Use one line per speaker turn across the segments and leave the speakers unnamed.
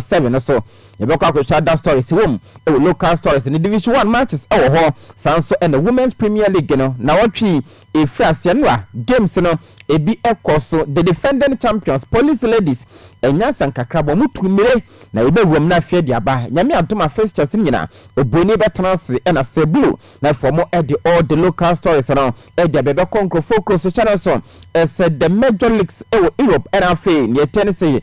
seven no so. Yɛbɛkɔ akɔhwɛ ada stories wom wɔ local stories ne division one matches wɔ hɔ. Saa nso na women's premier league no nawɔtwe yi ɛfiri aseɛ no a games no ɛbi kɔ so. The defending champions police ladies anya asankakra bɔ wɔn tu mmire na yɛbɛwuram no afei de aba. Nyame adom a fixtures no nyina obuoni bɛtena ase na sɛ blue na afei wɔn de all the local stories no de aba ɛbɛkɔ nkurɔfoɔ kuro so hyɛ no nso sɛ the major leagues wɔ Europe ɛna afei neɛ ɛteɛ ne sɛ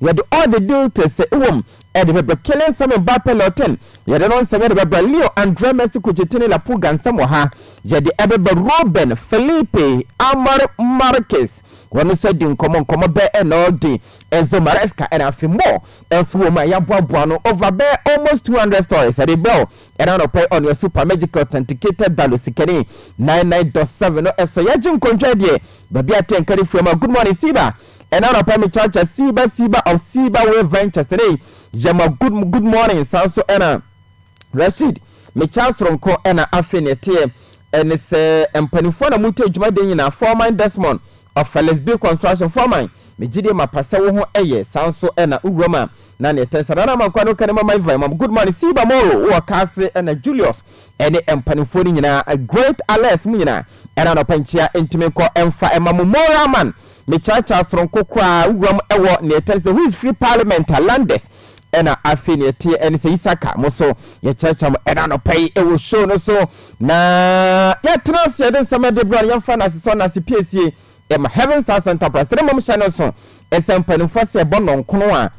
Yɛde all the details sɛ ewom ɛde bɛbrɛ Kele nsɛm mbaa pɛ Lɔtɛn yɛde no nsɛm ɛde bɛbrɛ Leo Andrɛ Mɛsi Kukyetini La Pulga nsɛm wɔ ha yɛde ɛbɛbrɛ Ruben Felipe Amar Marques wɔn nso adi nkɔmɔ nkɔmɔ bɛɛ ɛna ɔde Enzo Maresca ɛna afei more nso wɔ mu a yɛaboaboa ano over bɛɛ almost two hundred stories ɛde brɛ wo ɛna anɔpa yi ɔnua super magic authenticated dalo sikani nine nine dot seven no ɛsɔ yɛgye nkɔntwɛ deɛ baabi atɛnka ne fua ma good morning Siba. Ɛna anɔpa me cha cha siiba siiba of siiba way ventures ne Yama good good morning saa so ɛna Rasheed me cha soronko ɛna afei ne ɛteɛ ɛne sɛ mpanifoɔ na mute adwuma deɛ nyinaa foreman Desmond of Felix B construction foreman me gyidie ma pa sɛ wo ho ɛyɛ saa so ɛna owura ma na ne ɛtɛn sɛ nana ma nkwa no kane ma my vine ma good morning siiba moro wɔ kaase ɛna Julius ɛne mpanifoɔ no nyinaa great Alex mu nyinaa ɛna anɔpa nkyia ntumi nkɔ ɛmfa ɛma mo moral man Me kyaakyaa soronko koraa wuram wɔ nea ɛteɛ ne sɛ who is free parliament a landers ɛna afei nea ɛteɛ ne sɛ Isaka mo so yɛkyerɛkyerɛ mo ɛna anɔpa yi wɔ show no so na yɛatena ase yɛde nsɛm ɛde brɛ no yɛmfa no ase sɔ no ase piesie ɛma heaven star center press ne mmom hyɛ no so ɛsɛ mpanimfoɔ sɛ ɛbɔ nnɔnkono a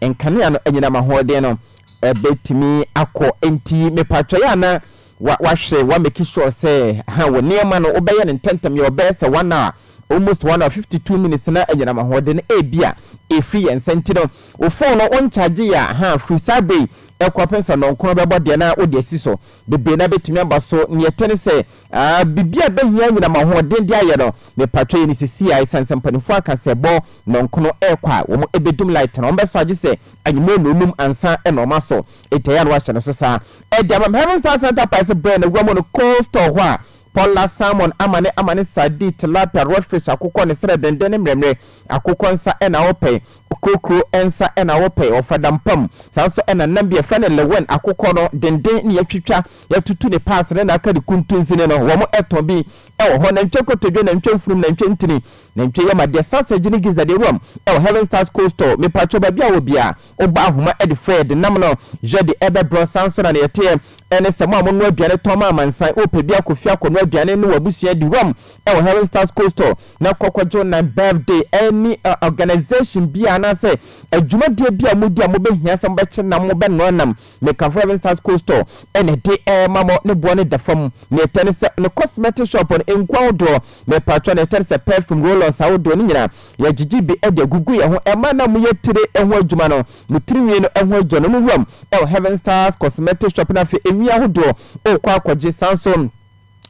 nkanea no anyinam ahoɔden no ɛbɛtumi akɔ nti mepatwɛ yɛ ana wahwɛ wameki sure sɛ ha wɔ nneɛma no wobɛyɛ no ntɛntɛm yɛ ɔbɛyɛ sɛ one hour Almost one hour, fifty two minutes na ɛyɛ nam ahoɔden ebia ɛfiri yɛn nsa nti no wo phone no wo nkyagye yɛ a ha firi saa berɛ yi ɛkɔpem sɛ nɔnkron bɛbɔ deɛ na wode asi so bebree na bɛtumi aba so neɛ ɛtɛ ne sɛ aa biribi a bɛhia nyinam ahoɔden de ayɛ no mepatwɛ yɛ ne sisi a ɛsiane sɛ mpanimfoɔ aka sɛ bɔ nɔnkono ɛrekɔ a wɔn ɛbɛdum light no wɔn bɛsɔ agye sɛ anwummerɛ na ɔnum ansa ɛna wɔn asɔ ɛtɛ yɛ a na wɔahyɛ no so saa ɛde ama Heaven Star Center Price berɛ na wura mu no cold store hɔ a Pɔlla, salmon, amane, amane, sardine, tilapia, rodfish, akokɔ ne serɛ denden ne mmerɛmmerɛ. Akokɔ nsa na wɔpɛ. Okurokuro nsa na wɔpɛ. Wɔfa dampa mu. Saa nso na nam bi a yɛfrɛ no lewen, akokɔ no denden ne yɛatwitwa, yɛatutu ne paase ne n'aka de kuntunsi ne no. Wɔtɔn bi wɔ hɔ. Nantwie nkotodwe, nantwie mfurum, nantwie ntini, nantwie yam adeɛ, sausage ne gizzard, awuram wɔ Heaven Stars Coastal. Mepatwɔ baabi a wɔ biara Ɔbɔɔ ahoma de frɛɛ denam no yɛ de ɛbɛ brɔsan so na neɛ ɛteɛ ɛne sɛ mo a mo noa aduane tɔn ma amansan wo pɛ bi akɔ fie akɔ noa aduane ne w'abusua di wam ɛwɔ Herring Stars Cold Store na kɔ kɔgye wo nan birthday ɛne organisation bi a anaasɛ adwumadie bi a mo di a mo bɛ hia sɛ mo bɛkye nam mo bɛ noa nam Me ka Forever Stars Co Store ɛna ɛde ɛɛma mo, ne boɔ no da fam, nea ɛtɛ ne sɛ ne cosmetic shop no nku ahodoɔ, me paatwɔ nea ɛtɛ ne sɛ perfume roll-ons ahodoɔ no nyinaa yɛ gyegye bi ɛde agugu yɛn ho ɛma na mo yɛ tire ɛho adwuma no, mo tiri nwi no ɛho adwuma no mo wuram ɛwɔ Heaven Stars cosmetic shop no afei nwi ahodoɔ okɔ akɔgye, san so.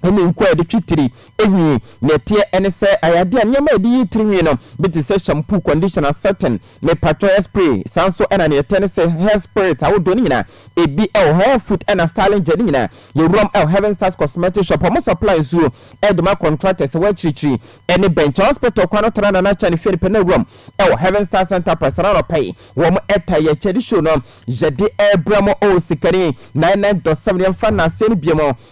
ne nku a yɛde twe tiri nwi. Nea ɛteɛ ne sɛ, ayɛadeɛ a nneɛma a yɛde yi tiri nwi no bi te sɛ shampoo, conditioner, setting, mepatwɔ, hair spray, saa nso na nea ɛteɛ ne sɛ hair spirit ahodoɔ no nyinaa ebi wɔ hɔ, hair food na styling gel no nyinaa yɛwuram wɔ Heaven Stars Cosmetic Shop, wɔn supply nsuo de ma contractors a ɛwɔ akyirikyiri ne Bɛnkye Hospital kwan no Tana Nana Chan fie no pɛ na wuram wɔ Heaven Stars Enterprise na anɔpa yi wɔn ɛta yɛ kyɛde show no yɛde ɛbrɛ mo o, Sikani 99.7 yɛmfa nnaseɛ no bio mu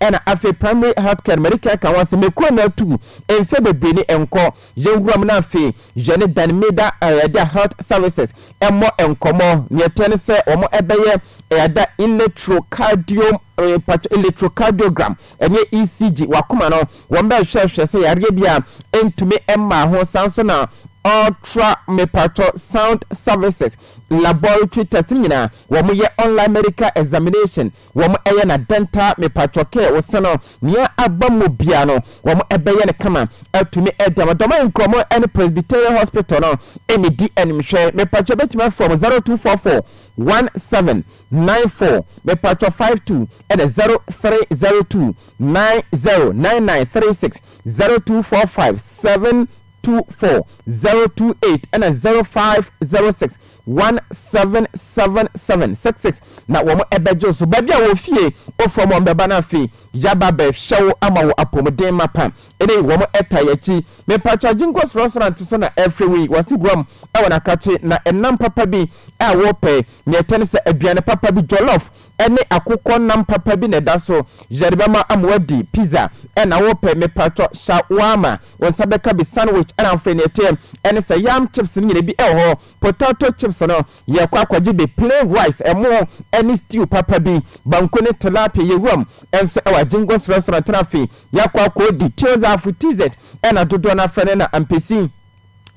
ɛna afei primary health care no mede care ka ho asɛm mekɔɔ no atuu mfeɛ bebree ni nkɔ yɛnwura mu na afei yɛne dan mida ɛyɛda health services ɛmmɔ nkɔmmɔ neɛ ɛteɛ ne sɛ wɔn ɛbɛyɛ ɛyɛda electrocardio mpakyɛ electrocardiogram ɛneɛ ECG wakoma no wɔn bɛhwɛhwɛ sɛ yareɛ bi a ɛntumi mmaa ho saa nso na ultra mepakyɛ sound services laboratory test nyinaa wɔn yɛ online medical examination Wɔn ɛyɛ na dɛntaa mepatwɔ kɛ wo sɛ no nea abam mu biaa no wɔn ɛbɛyɛ no kama atumi ɛde ama dɔmai nkrɔmɔ ɛne presbyterian hospital no ɛne di anim hwɛ mepatwɔ ɛbɛtumi afrɛ wɔn zero two four four one seven nine four mepatwɔ five two ɛne zero three zero two nine zero nine nine three six zero two four five seven two four zero two eight ɛne zero five zero six One seven seven seven six six na wɔn bɛgye wo so baabi a wɔ fie ofam wɔn bɛba na afei yaba bɛhwɛ wo ama wo apɔmuden mapa ɛnɛ yi wɔn ɛta yɛkyi mepatwa Aginkos restaurant so na ɛfrɛ wo yi wɔsi guam ɛwɔ nakakye na ɛnam papa bi a wɔpɛ nea ɛtɛ ne sɛ aduane papa bi jollof ɛne akokɔ nam papa bi na ɛda so yɛde bɛma ama wadi pizza ɛna wopɛ mepatwɔ shawarma wo nsa bɛka bi sandwich ɛna afei nea ɛteɛ ɛne sɛ yam chips no nyina bi ɛwɔ hɔ potato chips no yɛkɔ akɔgye bi plain rice ɛmo ɛne stew papa bi banku ne tilapia yɛwuram ɛnso ɛwɔ agyingo srɛsrɛ tena afei yɛkɔ akɔdi tiozafo tizet ɛna dodoɔ no afrɛ no na ampesi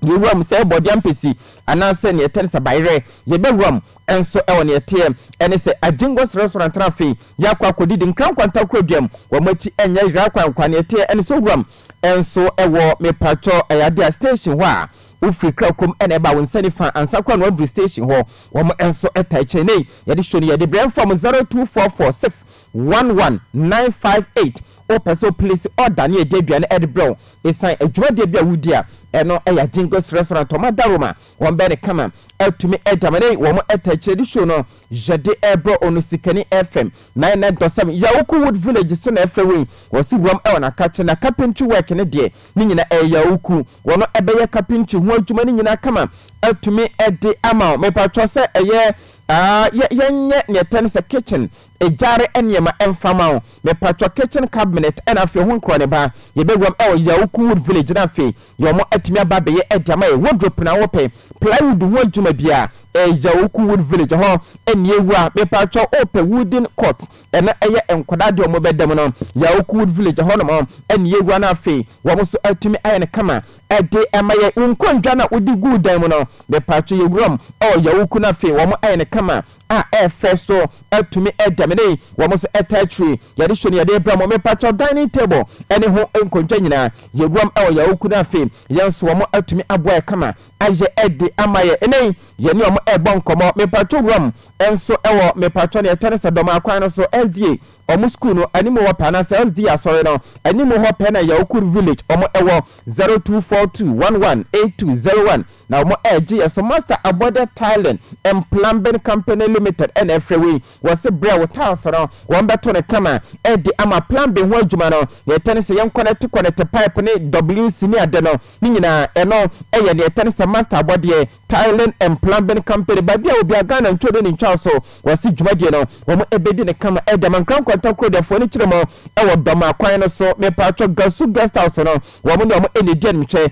Yewura mu sɛ bɔde ampesi anaasɛ nea ɛte ne sɛ bayerɛ. Yɛbɛwura mu nso wɔ nea ɛteɛ. Ɛne sɛ, Agyengo serɛserɛ ntena afei, yɛakɔ akɔdidi nkrankwa ntakora dua mu. Wɔn akyi nyɛ yera kwankwa. Nea ɛteɛ ɛne sɛ owura mu nso wɔ. Mepakyɛ, ɛyɛ ade a station hɔ a wofiri kra kurom na ɛba wo nsa nifa ansa koraa na woaduru station hɔ. Wɔn nso taa kyɛn. Nnɛyi, yɛde show no yɛ de brɛ mfa mu, zero two four four six One one nine five eight Wopɛ sɛ wo place order ne yɛde aduane ɛde brɛ wo ɛsiane adwumadeɛ bi a wodi a, ɛno yɛ Ajingles Restaurant wɔn ada room a wɔn bɛyɛ no kama atumi ɛde ama nei wɔn ɛta akyire de show no yɛde ɛbrɛ wo no Sikani FM nine nine dot seven Yawuku Wood Village so na ɛfrɛ wei wɔse wuram ɛwɔ Nakakye na carpentry work no deɛ ne nyinaa ɛyɛ Yawuku wɔn ɛbɛyɛ carpentry ho adwuma no nyinaa kama atumi ɛde ama wo mepatrɔ sɛ ɛyɛ ah yɛ yɛnyɛ neɛ ɛtɛ no sɛ kitchen Egyare nneɛma mfa ma wo. Mepakyɛw kitchen cabinet ɛna afei ho nkorɔ ne ba yɛbɛwuram ɛwɔ Yawuku wood village na afei deɛ ɔmo atumi aba abɛyɛ ɛde ama yɛ wardrope na wopɛ plywood ho adwuma biaa ɛyɛ Yawuku wood village ɛhɔ ɛnni awu a mepakyɛw wopɛ wooden cot ɛna ɛyɛ nkwadaa deɛ ɔmo bɛda mu no Yawuku wood village ɛhɔ nom ɛnni awu a na afei wɔn nso atumi ayɛ no kama ɛde ɛma yɛ wo nkondwa na wode guu dan mu no mepakyɛw yɛwuram ɛwɔ Yawuku na afei wɔn ayɛ no kama a ɛyɛ fɛ so atumi da me ne wɔn so ɛtaa akyiri. Yɛde hyɛ no yɛde rebrɛ mo. Mepakyɛw dining table ne ho nkonnwa nyinaa yɛwuram wɔ yɛn awuku no afe yɛn nso wɔn atumi aboa yɛ kama ayɛ de ama yɛn. Nnɛ yi yɛne wɔn rebɔ nkɔmmɔ. Mepakyɛw wuram nso wɔ mepakyɛw nea ɛtɔ ne sɛ Dɔmaa kwan no so SDA wɔn school no anim hɔ pɛ anaasɛ SDA asɔre no anim hɔ pɛ na Yawukur village wɔn wɔ zero two four two one one eight two zero one. Na wɔn a ɛgye yɛ so master abɔdeɛ tiling and plumbing company limited na ɛfrɛ wei wɔse brɛ wo tiles no wɔn bɛto no kama de ama plumbing ho adwuma no nea ɛtɛ ne sɛ yɛn kɔnɛte kɔnɛte pipe ne WC ne ade no ne nyinaa ɛno ɛyɛ nea ɛtɛ ne sɛ master abɔdeɛ tiling and plumbing company baabi a obia Ghana ntwo ne ne ntwaw so wɔse dwumadie no wɔn ɛbɛdi ne kama de ama Nkran Nkwanta Kurodeɛfoɔ ne kyerɛ mu ɛwɔ Dɔmaa kwan no so mepaatwɔ Gasu guest house no wɔn ne wɔn ɛna ɛdi animhwɛ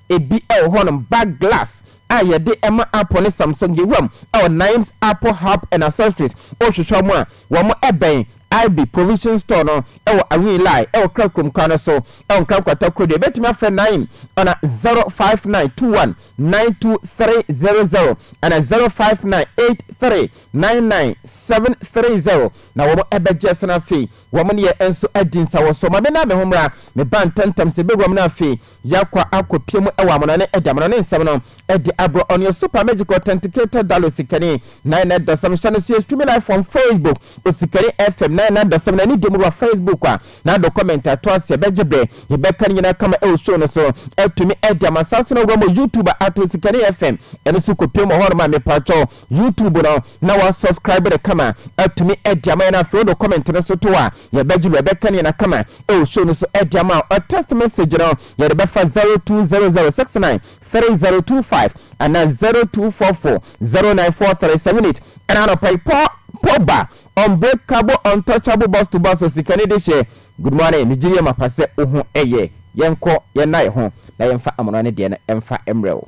Ebi wɔ hɔnom, bag glass a yɛde ma Apple ne Samsung, yewuram wɔ Naim's Apple Hub and Accessories, wohwehwɛ wɔn a, wɔn bɛn Ibe Provision Store no wɔ Awin Lai wɔ Kra Kurom kwan no so wɔ Nkran Nkwanta Kodoɔ, yɛbɛtumi afrɛ Naim ana 0592192300 ana 0598399730 na wɔn bɛgye so na afei wɔn ne yɛn nso adi nsawɔso. Ma me na me ho mmra, meba ntɛmntɛm sɛ bɛwuram na afei Yɛakɔ akɔpia mu wɔ amono ne damono ne nsɛm no de abrɛ ɔno yɛ super magic authenticator dollar osikani nine na dasam hyɛ no so yɛ streaming live from facebook osikani fm nine na dasam na ne dɛm wura facebook a na do comment ato aseɛ bɛgye brɛ yɛbɛka ne nyinaa kama ɛwɔ show no so atumi ɛde amansa so na wura mu youtube ato osikani fm ɛno so kɔpia mu hɔ no ma mepa kyɛw YouTube no na wa subscribe no kama atumi ɛde ama yɛn afei wode comment no so to a yɛbɛgye no yɛbɛka ne na kama ɛwɔ show no so ɛde ama a ɔ text message no yɛde bɛfa 0200693025 ana 0244094378 ɛna anɔpa yi pɔ pɔba unbreakable untouchable boss to boss osikani de hyɛ good morning ne gyiri yɛ mapa sɛ wo ho ɛyɛ yɛnkɔ yɛn na yɛ ho na yɛmfa amona ne deɛ no ɛmfa mmerɛ wo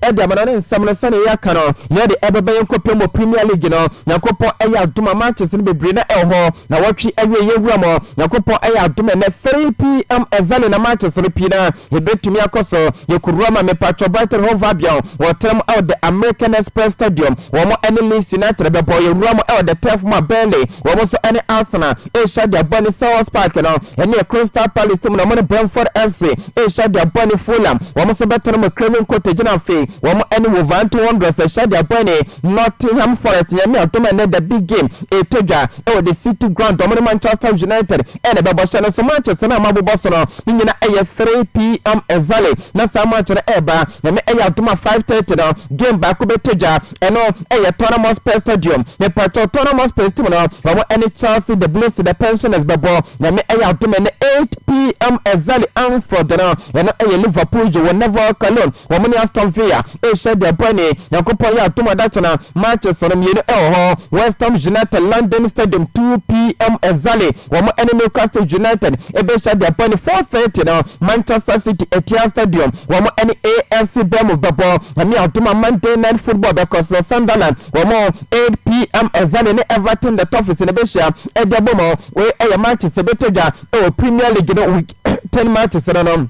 de ama no ne nsɛm no sɛnea yɛaka no yɛn de ɛbɛba yɛn kɔpem wɔ premier league no nyankopɔn ɛyɛ adom a matches no bebree na ɛwɔ hɔ na wɔtwe awie yɛn wura mu nyankopɔn ɛyɛ adom ɛnɛ 3pm ɛzane na matches no pii na yɛbɛtumi akɔ so yɛkɔwura ma mepatwɔ Brighton Hove Albion wɔtra mu ɛwɔ the American Express Stadium wɔn ɛne Leeds United bɛbɔ yɛwura mu ɛwɔ the turf mu a Burnley wɔn nso ɛne Arsenal ɛhyɛ de abɔ ne Selhurst Park no ɛne Crystal Palace mu na wɔn ne Brentford FC Hyɛdeɛ bɔne Fulham wɔn nso bɛtɔn mo Craven Cottage gyina afei wɔn ɛne Wolverhampton Wanderers Hyɛdeɛ bɔne Nottingham Forest Nyame adom ɛnɛ the big game ɛtɔ dwa ɛwɔ the city ground wɔn ne Manchester United ɛna ɛbɛbɔ hyɛ no nso matches no a moabobɔ so no ne nyina ɛyɛ 3pm exactly na saa match no ɛɛba Nyame ɛyɛ adom a 5:30 no game baako bɛtɔ dwa Ɛno yɛ Tottenham Hotspur Stadium. Mepakyɛw Tottenham Hotspur Stadium no wɔn ɛne Chelsea, the Blues, the Pensioners bɛbɔ. Nyame ɛyɛ adom ɛnɛ 8 PM Ezzali Anfield no ɛno yɛ Liverpool gye wɔn Neville Cologne wɔn ne Aston Villa ɛrehyɛ de ɛbɔ ɛne Nyankopɔn yɛ adom adakyena matches no mmienu ɛwɔ hɔ West Ham United London Stadium 2 PM Ezzali wɔn ɛne Newcastle United Ebɛhyɛ da bɔ no four thirty no Manchester City Etihad Stadium wɔn ɛne AFC Bournemouth bɛbɔ. Nyame adom a Monday night football bɛkɔ so Sunderland wɔn eight PM ɛzane ne Everton the Toffees no bɛhyia ɛde abom. Wei ɛyɛ matches bɛtɔ dwa ɛwɔ Premier League no week ten matches no no.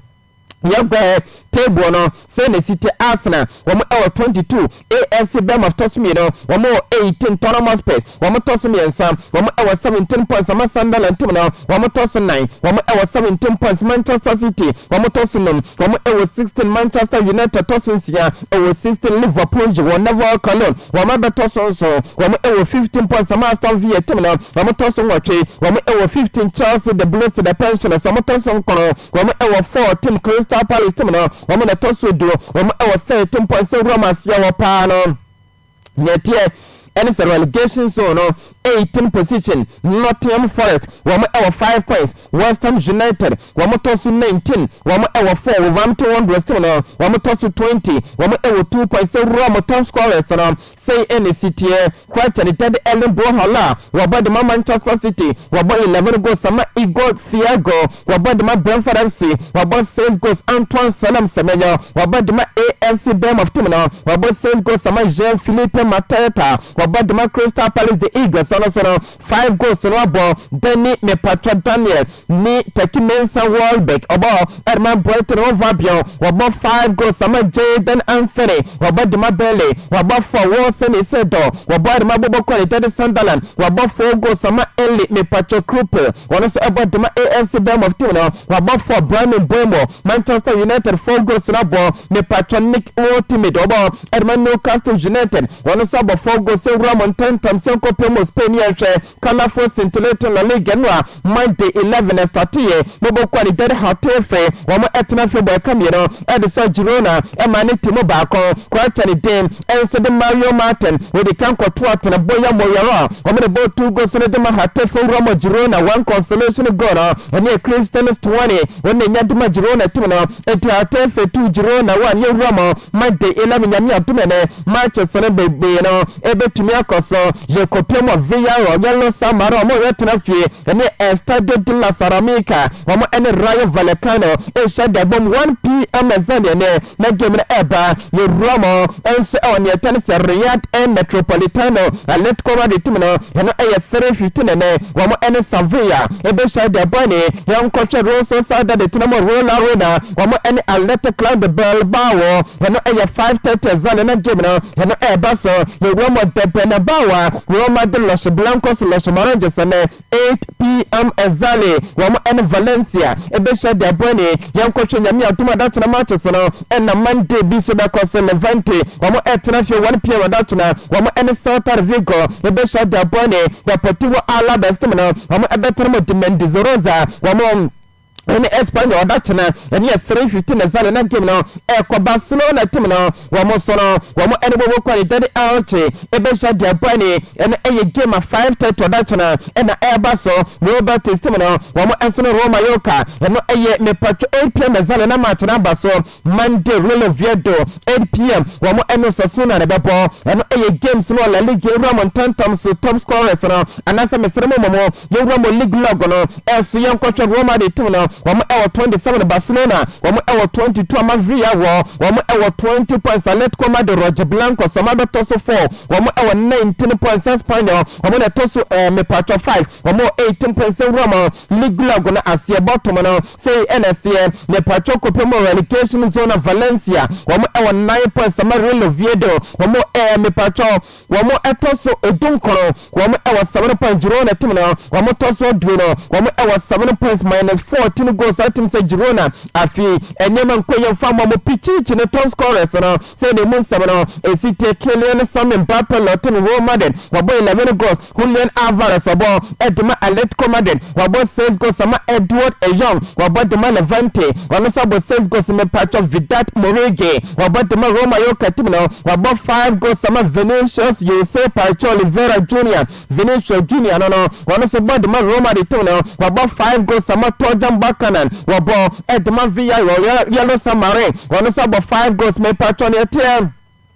Yɛn kɔɛ table no sɛn na ɛsi te Arsenal wɔn wɔ 22 AFC Bournemouth tɔ so mmienu wɔn wɔ 18 Tottenham Hotspurs wɔn tɔ so mmiɛnsa wɔn wɔ 17 points ama Sunderland ntam no wɔn tɔ so nnan wɔn wɔ 17 points Manchester City wɔn tɔ so num wɔn wɔ 16 Manchester United tɔ so nsia wɔ 16 Liverpool gye wɔn Neville Cologne wɔn abɛtɔ so nson wɔn wɔ 15 points ama Aston Villa ntam no wɔn tɔ so nwɔtwe wɔn wɔ 15 Chelsea the Blues the Pensioners wɔn tɔ so nkron Wɔn wɔ four tim Crystal Palace tim no wɔn na ɛtɔ so du wɔn wɔ third mpɔnsɛ wura mu aseɛ wɔ paa no nea ɛteɛ ɛne sɛ relegation zone no eighteen position Nottingham Forest wɔn wɔ five points West Ham United wɔn tɔ so nineteen wɔn wɔ four Wolverhampton Wanderers tim no wɔn tɔ so twenty wɔn wɔ two points sɛ wura mu top scorers no Sei na esi teɛ, Quarter Tade Erling Bro Haaland, wabɔ de ma Manchester City, wabɔ eleven goals ama Igor Thiago, wabɔ de ma Brentford FC, wabɔ six goals Antoine Selam Semenyo, wabɔ de ma AFC Bournemouth team no, wabɔ six goals ama Jean-Philippe Mateta, wabɔ de ma Crystal Palace The Eagles, ɛno nso no, Five goals no abɔ Danny Mepatwa Daniel ne Turkey Mensah Welbeck ɔbɔ de ma Brighton Hove Albion wɔabɔ five goals ama Jayden Anthony wɔabɔ de ma Burnley wɔabɔ four Wilson Isidor wɔabɔ de ma Bobokor ne Derby Sunderland wɔabɔ four goals ama Eli Mepatwa Krupel ɔno nso ɛbɔ de ma AFC Bournemouth team no wɔabɔ four Bryan Mbeumo Manchester United four goals no abɔ Mepatwa Nick Woltemade ɔbɔ Ɛde ma Newcastle United, wɔn nso abɔfoɔ goals nwura mu ntɛmntɛm sɛ nkɔpɛ mu Spain yɛnhwɛ Ghanafoɔ scintillating La Liga no a Monday 11 ɛstarteeɛ na bɔ kɔɔ ne dɛre hatee fre wɔn ɛtena fre bɔ ɛka mmienu ɛde sɔ Girona ɛmaa ne team baako Quarta ne din nso de Mario Martin ɔdi kan kɔtoo atena Boya Moyaro a wɔn na ɛbɔɔ two goals no de ma hateefoɔ nwura mu Girona one consolation goal no ɛne Christian Stuani wɔn na ɛnya de ma Girona team no ɛti hatee fre two Girona one yɛnwura mu Madi nam Nyame a tumi ne m'akyɛse no bebree no ebetumi akɔ so. Yɛkɔpem wɔ Villarreal, Yellow Samara, wɔn ɔyɛtena fie, ne Estadio de la Ceramica, wɔn ne Rayo Vallecano nhyɛ da bom. 1 PM ɛsɛ nea ɛnnɛ na game no ɛreba. Yɛwura mo nso wɔ nea ɛtɛne sɛ Real El Metropolitano, Atletico Madrid tumi no, ɛno ɛyɛ fere hwiti na ɛnɛ wɔn ne Sevilla ɛbɛhyɛ da bɔ. Ɛne yɛnkɔhwɛ Real Sociedad tena mu wɔ Real Arena. Wɔn ne Atlete Club de Bilbao. Ɛno yɛ 5:30 adza na na game no ɛno ɛreba so. Yɛwura mu ɔdɛ Bernabao a Roma de Los Blancos, Los Moranges, ɛnɛ 8pm exactly wɔn ne Valencia ɛbɛhyia de abɔ ani. Yɛnkɔhwɛ Nyame adom adakyena matches no ɛna Monday bi nso bɛkɔ so. Levante wɔn ɛretena fie 1pm adakyena wɔn ne Celta de Vigo ɛbɛhyia de abɔ ani. Deportivo Alaves team no wɔn ɛbɛtena mu de Mendizorroza wɔn ɛne Espanyol ɔda kyena ɛne ɛfere hwete na zane na game no ɛkɔ Barcelona tim no wɔn nso no wɔn ɛne wɔwɔ kwan dade aɔkye ɛbɛhyɛ deɛ ɛbɔ ɛne ɛno ɛyɛ game a 5:30 ɔda kyena ɛna ɛba so Real Betis tim no wɔn nso no Roma Yoka ɛno ɛyɛ mepatwo 8pm na zane na match no aba so Monday Real Oviedo, 8pm, wɔn ɛne Osasuna na ɛbɛbɔ. Ɛno ɛyɛ games no wɔ La Liga yɛwura mo ntɛntɛm so top scorers no anaasɛ mesrɛ mo mmɔmo yɛwura mo league log no so yɛnkɔhwɛ Real Madrid team no wɔn ɛwɔ 27 Barcelona wɔn ɛwɔ 22 ama Villarreal wɔ wɔn ɛwɔ 20 points Atletico Madrid Roge Blancos wɔn abɛtɔ so 4 wɔn ɛwɔ 19 points Espanyol wɔn na ɛtɔ so ɛɛ mepatwɔ 5 wɔn wɔ 18 points ɛwura mo league log no aseɛ bɔtom no Sei na ɛseɛ, Ne patrɔ kɔpɛ mu relegation zone Valencia wɔn wɔ nine points ama Real Oviedo wɔn ɛyɛ me patrɔ wɔn ɛtɔ so du nkron wɔn wɔ seven points Girona team no wɔn tɔ so aduonu wɔn wɔ seven points minus fourteen goals saa team sɛ Girona afei nneɛma nkɔ yie mfa mma mo Pichichi ne top scorers no sɛ na emu nsɛm no ɛsi teɛ Kylian Sami Mbappe Lottin Real Madrid wɔbɔ eleven goals Julian Alvarez wɔbɔ de ma Atletico Madrid, wɔabɔ six goals ama Edward Eyong, wɔabɔ de ma Levante, ɔno nso abɔ six goals, mepatwɔ Vedat Muriqi, wɔabɔ de ma Real Mallorca tim no, wɔabɔ five goals ama Vinicius Jose Parejo Oliveira Junior, Vinicius Junior no no, ɔno nso bɔ de ma Real Madrid tim no, wɔabɔ five goals ama Torjan Buchanan, wɔbɔ de ma Villarreal Yellow Submarine, ɔno nso abɔ five goals, mepatwɔ nea ɛteɛ.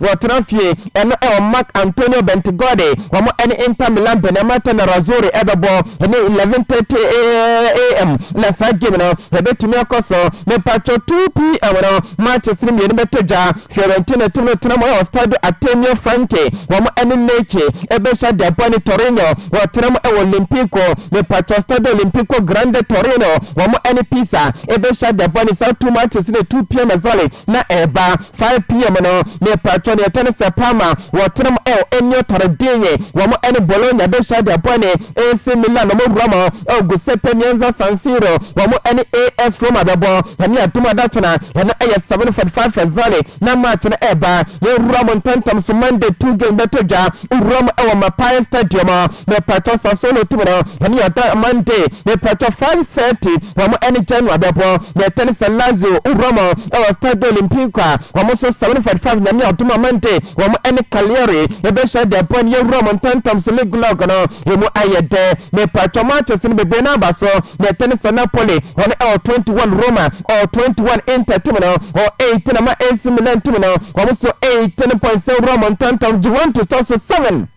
Wɔtena fie ɛno ɛwɔ Marc Antonio Bentegodi wɔn ɛne Inter Milan Benemato Nerazzurri ɛbɛbɔ ɛne 11:30 am na saa game no ɛbɛtumi akɔ so mepatwɔ 2 pm no matches no mmienu bɛtɔ dwa Fiorentina tim no tena mu ɛwɔ Stadio Artemio Franchi wɔn ɛne Lecce ɛbɛhyɛ de abɔ ne Torino wɔtena mu ɛwɔ Olimpico mepatwɔ Stadio Olimpico Grande Torino wɔn ɛne Pisa ɛbɛhyɛ de abɔ ne saa two matches no 2 pm ɛzɔle na ɛreba 5 pm no mepatwɔ neɛ ɛtɔ ne sɛ Parma wɔtenam o ɛni ɔtare dee wɔn ɛne Bologna bɛhyia de abɔ ɛne AC Milan ɔmo wura mu o Guseppe Mienza San Siro wɔn ɛne AS Roma bɛbɔ Nyame adom adakyena ɛno ɛyɛ 7:45 Fazane na match no ɛɛba yɛn wura mu ntɛntɛm so Monday two games bɛtɔ dwa Owuram ɛwɔ Mapaye stadium a mepatwɔ Sasolo team no wɔn yɛ ɔda Monday mepatwɔ five thirty wɔn ɛne Genoa bɛbɔ na ɛtɛne sɛ Lazio Owuram ɛwɔ Stadio Olimpico a wɔn nso seven forty five Nyame adom a Monday wɔn ɛne Cagliari ɛbɛhyɛ de ɛbɔ ne Owuram ntɛntɛm so league log no ɛmu ayɛ dɛ mepatwɔ matches no bebree no aba so na ɛtɛne sɛ Napoli wɔn ɛwɔ twenty one Roma Ɔ twenty one inter tim no, ɔ eighteen ama AC Milan tim no, wɔn so eighteen points sɛ wura wɔn ntantam Juventus tɔ so seven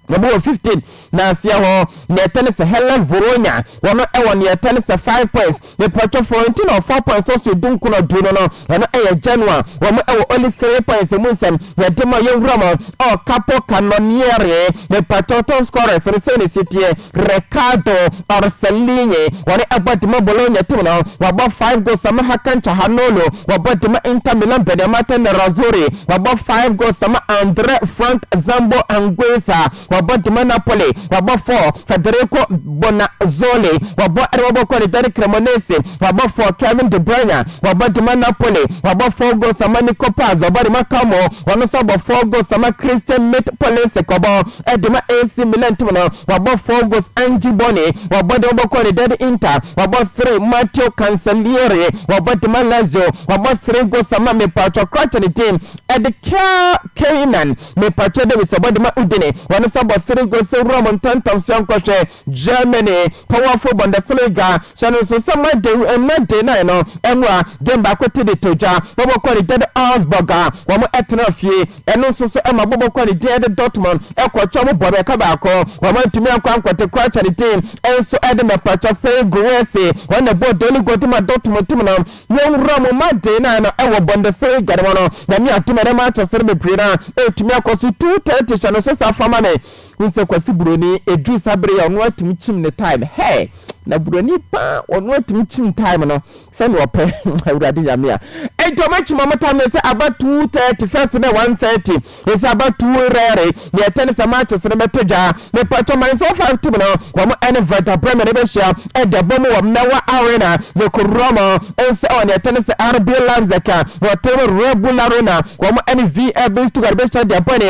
na wɔn wɔ fifteen na aseɛ hɔ nea ɛtɛ ne sɛ Hellas Verona wɔn wɔ nea ɛtɛ ne sɛ five points mepatwa Florentina wɔ four points tɔ so edu nko na ɔdu no no ɛno ɛyɛ Genoa wɔn wɔ only three points emu nsɛm yɛde ma yɛn wura wɔn ɔ Capo Cannoniere mepatwa top scorers no sɛ na ɛsi teɛ Riccardo Orsolini, wɔne ɛbɔ de ma Bologna tim no, wabɔ five goals ama Hakan Calhanoglu, wabɔ de ma Inter Milan Beniamata Nerazzurri, wabɔ five goals ama Andre Frank Zambo Anguissa, wabɔ de ma Napoli, wabɔ four Federico Bonazzoli, wabɔ de ma Boca ne Dani Cremonese, wabɔ four Kevin De Bruyne, wabɔ de ma Napoli, wabɔ four goals ama Nico Paz, wabɔ de ma Como, ɔno nso abɔ four goals ama Christian Mit Pulisic, ɔbɔ. de ma AC Milan tim no, wabɔ four goals, Ange Boni, wabɔ de ma Boca Unidad, Inter, wabɔ three, Matteo Cancellieri, wabɔ de ma Lazio, wabɔ three goals ama mepatwɔ krataa ne din de Kyle Keinan, mepatwɔ Davis, ɔbɔ de ma Udine, ɔno nso abɔ three goals sɛ Rome ntantam soa nkɔhwɛ. Germany Powerful Bundesliga hyɛ no nso sɛ ma den nnɛ den nan no mu a game baako te de to dwa. Bɔbɔ kɔ ne gyade Augsburg a wɔn tena fie. Ɛno nso so ma bɔbɔ kɔ ne gyade Dortmund kɔ twa mu bɔbeɛka baako. Wɔn antumi ankɔ ankɔte Crouch ne den nso de mɛpakyɛ sɛn Guirassy. Wɔn na ɛbɔɔ daily goal de ma Dortmund tim no. Yɛn nwura mu ma den nan no wɔ Bundesliga no mu no. Nyame adom ɛnɛ matches no bebree no a ɛtumi akɔ so. 2:30 hyɛ no nso saa fa ma me. Wohu sɛ Kwasi Buroni ɛduru saa bere yi a ɔno ara tumi kyim ne time hey! Na Buroni paa ɔno ara tumi kyim time no sɛnea ɔpɛ Awurade Nyame a Enti ɔmo akyim ɔmo time no ɛsɛ aba two thirty first na one thirty ɛsɛ aba two rɛre Nea ɛtɛ ne sɛ matches no bɛto dwa Mepakyɛ ma nso five tim no wɔn ɛne Werder Bremen no bɛhyia ɛde abɔ mu wɔ Mmewa Arena Yɛkɔ Roma nso ɛwɔ nea ɛtɛ ne sɛ RB Leipzig a wɔte Red Bull Arena wɔn ɛne VfB Stuttgart bɛhyia de abɔ ne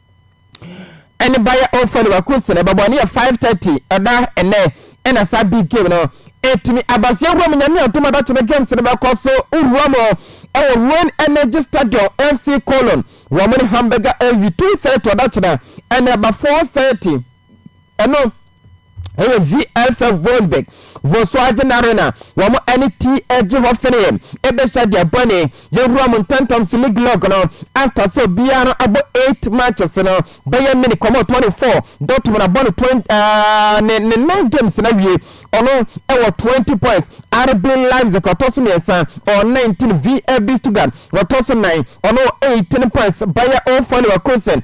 ɛne Bayer Oldfield Leverkusen ɛbɛbɔ ne yɛ 5:30 ɛda ɛnɛ ɛna saa big game no ɛtumi aba so yɛwura mu nyame adom adatwene games no bɛkɔ so wura mu ɛwɔ Rhone Energy Stadium FC Cologne wɔn ne Hamburger AV 2:30 ɔdatwene ɛna ɛba 4:30 ɛno ɛyɛ VFF Wolfsburg Volkswagen Arena wɔn ɛne TSG Hoffenheim ɛbɛhyɛ deɛ bɔne yɛwura mu ntɛntɛm so league log no aka sɛ obiara no abɔ 8 matches no bɛyɛ mini kɔmɔ 24 Dortmund abɔ no 20 uh, ne, ne 9 games na wie ɔno ɛwɔ 20 points RB Leipzig ɔtɔ so mmiɛnsa ɔwɔ 19 VFB Stuttgart ɔtɔ so 9 ɔno 18 points Bayer 04 Leverkusen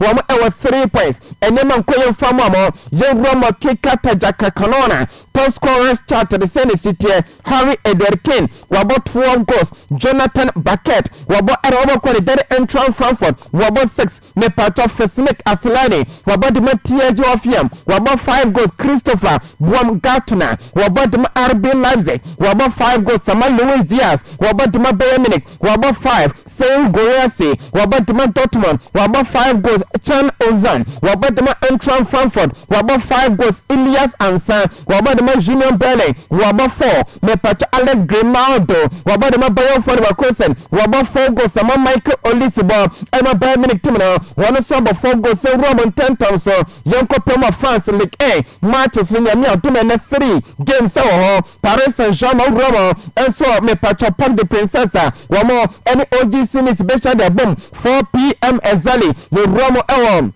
Wɔn ɛwɔ three points ɛnɛ ma nkɔ yɛn fa mɔ mɔ yɛn wura mɔ keka tagya ka kanɔna top scorers chart de sɛ ne si teɛ Harry Edward Kane wabɔ twelve goals Jonathan Backet wabɔ ɛna wɔbɔ kɔ ne dade Antwan Frankfurt wabɔ six me patɔ Fisnik Aslani wabɔ de ma TSG Hoffenheim wabɔ five goals Christopher Buam Gartner wabɔ de ma RB Leipzig wabɔ five goals Sama Luis Diaz wabɔ de ma Bayern Munich wabɔ five Seun Guirassy, wabɔ dema Dortmund, wabɔ five goals, Can Ozan, wabɔ dema Eintracht Frankfurt, wabɔ five goals, Ilias Ansah, wabɔ dema Union Berlin, wabɔ four, mepatwa Alex Grimaldo, wabɔ dema Bayer fɔ Leverkusen, wabɔ four goals ama Michael Olise bɔ ɛma Bayern Munich team no, wɔn nso abɔ four goals sɛ wura wɔn ntɛntɛm so. Yɛnkɔ pɛ mu wɔ France Ligue 1 matches no, Nyame adom ɛnnɛ three games wɔ hɔ, Paris Saint Germain wura wɔn nso mepatwɔ Parc de Princess a wɔn ɛne OGC Nice bɛhyia de abom 4 pm exactly yɛ wura mo ɛwɔ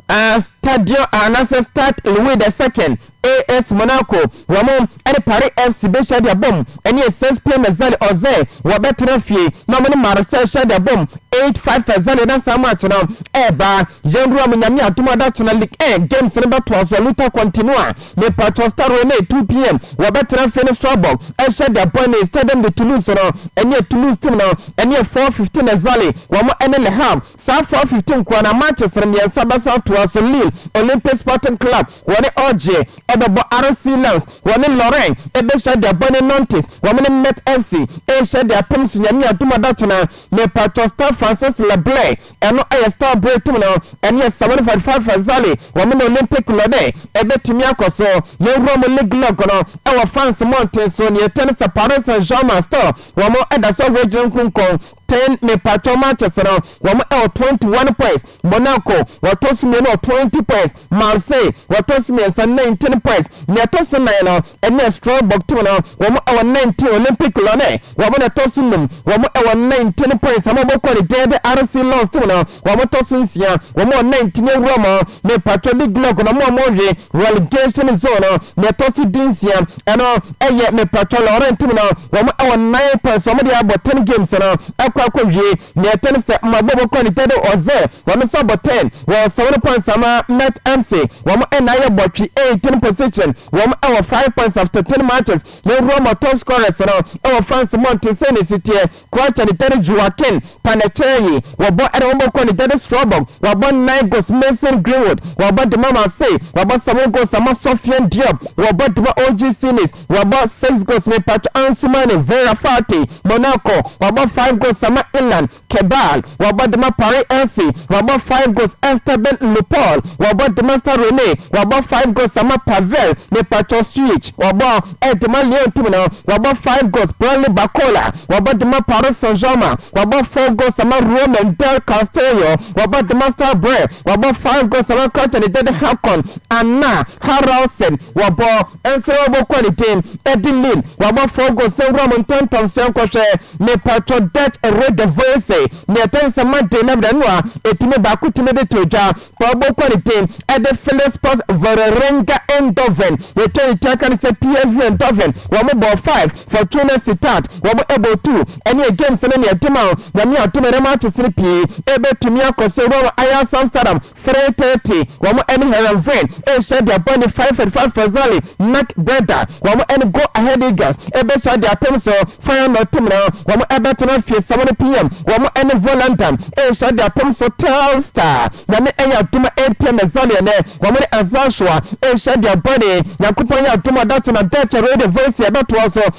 ɛɛ stadion anasɛ stade Louis the second AS Monaco wɔn ɛne Paris FC bɛhyia de abom ɛne 6 pm exactly ɔzɛ wɔ bɛtena fie na wɔn ne Marseille hyia de abom 8 5 exactly na saa match no ɛɛba yɛn wura mo nyame adom adakyena league ɛɛ games no bɛtoa so luta continua. Mepatsɔ Stade Rennais two pm wɔbɛtsena fie no so abɔ ahyɛ The Point in Stadium de Toulouse no nnyɛ Toulouse team no nnyɛ four fifteen na Zale wɔn ne Le Havre saa four fifteen nkoa na matches no mmiɛnsa bɛsan atoa so Lille Olympic Sporting Club wɔne Orge ɛbɛbɔ RC Lens wɔne Lorient ɛbɛhyia The Point ne Nantes wɔn ne Metz FC ɛrehyia de apem so Nyame adum adakyena Mepatsɔ Stade Francis Leblanc Ɛno yɛ Star bere tim no ɛne Asawani Fatifati Farzali wɔn na Olympic lɔde ɛbɛtumi akɔ so. Yɛn wura mu league lɔg no ɛwɔ France mmɔnten so nea ɛtɛn sɛ Paris Saint Germain still wɔn ɛda so wɔ gyina nkunkun ten me patwɔ matches no wɔn ɛwɔ twenty one points Monaco wɔtɔ so mmienu wɔ twenty points Marseille, wɔtɔ so mmiɛnsa, nineteen points. Nea ɛtɔ so nnan no ne Strasbourg team no, wɔn wɔ nineteen. Olympique Lyonnais, wɔn na ɛtɔ so nnum, wɔn wɔ nineteen points. Ama wɔbɛkɔ ne gyɛɛ de RC Lens team no, wɔtɔ so nsia, wɔn wɔ nineteen. Yɛwura mu ne Patriots de Gillock no, wɔn a wɔrewe relegation zone no, nea ɛtɔ so dunsia, ɛno yɛ ne Patriots Lorient team no, wɔn wɔ nine points. Wɔde abɔ ten games no akɔ akɔwie. Nea ɛtɔ ne sɛ mmɔbɔbɔ kɔ ne tɛ do ɔdze hɔn fa bɔ tɛn wɔ ɔsɔw no kɔnsama Met Amse wɔn nna yɛ bɔtwe eighteen position wɔn wɔ five points after ten matches yɛwura mu top scorers no wɔ France mmɔnten sɛn na esi teɛ Croatia ne tɛ do Joaquin Paneceryi wɔbɔ ɛna wɔn bɔ kɔ ne tɛ do Strasbourg wɔabɔ nnan goals Mason Greenwood wɔabɔ dema Marseille wɔabɔ seven goals ama Sofiane Diop wɔbɔ dema OGC Nice Wabɔ six goals mepatwɔ Ansoumane, Vera Fati, Monaco, wabɔ five goals ama Ilan, Kebal, wabɔ dema Paris FC, wabɔ five goals Esteban Lupol, wabɔ dema Stade Rennais, wabɔ five goals ama Pavel mepatwɔ Suich, wabɔ dema Lyon team no, wabɔ five goals Branly Barcola, wabɔ dema Paris Saint-Germain, wabɔ four goals ama Roman Del Castillo, wabɔ dema Stade Brest, wabɔ five goals ama Kraton Dede Haakon, Anna Haraldsen, wabɔ. Ɛnsɛ ɔbɔ kɔ ne din ɛdi nim wabɔ fɔɔ go sɛ nwura mo ntɔntɔm sɛ nkɔ hwɛ me patwɔ Dutch re the voice ne ɛtɛn sɛ ma den na bda no a ɛtumi baako tumi de to dwa kɔ ɔbɔ kɔ ne din ɛde Philispos Vålerenga Eindhoven yɛtwa ne tua ka ne sɛ PSV Eindhoven wɔ mo bɔɔ 5 Fortuna Sittard wɔ mo ɛbɔɔ 2 ɛne ɛ games no ne ɛde ma wo nyame adom ɛnɛ matches no pii ɛbɛtumi akɔ so wura wɔ Ajax Amsterdam Three thirty, wɔn ɛne Heerenveen rehyɛ deɛ bɔ ne five forty five Fazali Mac Breda, wɔn ɛne Go Ahead Eagles ɛbɛhyia deɛ apem so Feyenoord Timrå, wɔn ɛbɛto no afie seven no PM, wɔn ɛne Volendam rehyia deɛ apem so Telstar, Nyame ɛyɛ adom a eight PM Ɛzani ɛnɛ, wɔn ne Azalshoa rehyia deɛ bɔ ne Nyankopɔn yɛ adom a ɔda kye na Dutch Rode Vassy ɛbɛtoa so.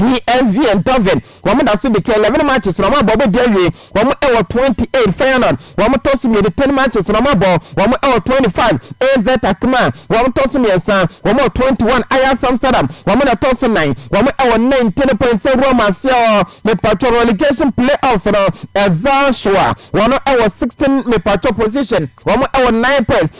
PSV Eindhoven wɔn da so de ka eleven matches na wɔn abɔ wɔn di awie wɔn wɔ twenty eight Feyenoord wɔn tɔ so mmienu ten matches na wɔn abɔ wɔn wɔ twenty five AZ Alkmaar wɔn tɔ so mmiɛnsa wɔn wɔ twenty one Ajax Amsterdam wɔn na tɔ so nnan wɔn wɔ nineteen points sɛ wura wɔn aseɛ wɔ mepatwɔ relegation playoffs no ɛza so a wɔn wɔ sixteen mepatwɔ position wɔn wɔ nine points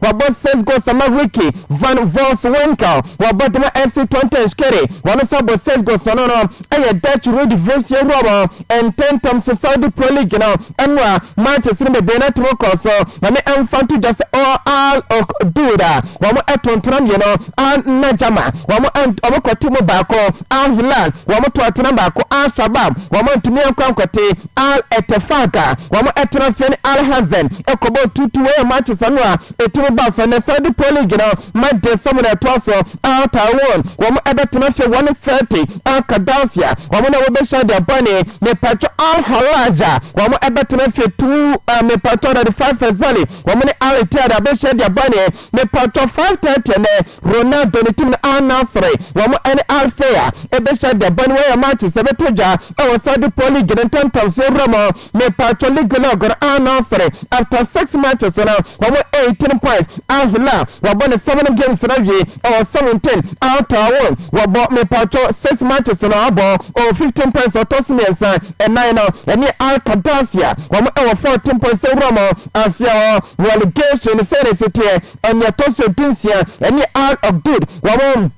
Wɔabɔ six goals ama Ricky van Wolfswinkel, wɔabɔ de ma FC Twente Nshkere, wɔn nso abɔ six goals, ɔno no yɛ Dutch Eredivisie wura wɔn ntɛntɛm so Saudi Pro League no mu a matches no bebree no atom kɔɔ so. Nyame mfa nto dwa sɛ Al Ukhdoud a wɔn to ntena mmienu, Al Najama wɔn wɔkɔte mu baako, Al Hilal wɔn to atena baako, Al Shabab wɔn antumi ankɔ ankɔte. Al-Etefaq a wɔtra fie ne Al-Hazan kɔbɔɔ tuutu wɔ yɛn matches ano a etumi baa so. Ɛnnɛ Saudi Pro League no match day sɛ mu na ɛtoa so. Al-Taawoon wɔbɛtena fie wɔ ne Thirty. Al-Qadasiyah wɔn na wɔbɛhyia deɛ bɔ ne mepatwɔ Al-Hallaj a wɔbɛtena fie Two. Mepatwɔ Radifa Fezali wɔn ne Al-Ittihad abɛhyia deɛ bɔ ne. Mepaatɔ five thirty ne Ronaldo ne team no Al Nassr wɔn ɛne Al Fea ɛbɛhyia deɛ bɔ ne wɔyɛ matches ɛbɛtɔ dwa ɛwɔ Saudi Pro League no ntɛntɛnsoɔ wura mu mepaatɔ league log no Al Nassr after six matches no wɔn eighteen points Al Hilal wɔabɔ ne seven games no awie ɛwɔ seventeen Al Taawoon wɔabɔ mepaatɔ six matches no abɔ ɔwɔ fifteen points ɔtɔ so mmiɛnsa ɛnan no ɛne Al Qadassia wɔn ɛwɔ fourteen points wura mu Asia hɔ relegation sɛn na ɛsi teɛ? Ɛnea ɛtɔ so du nsia ɛne Al Ogdud wɔn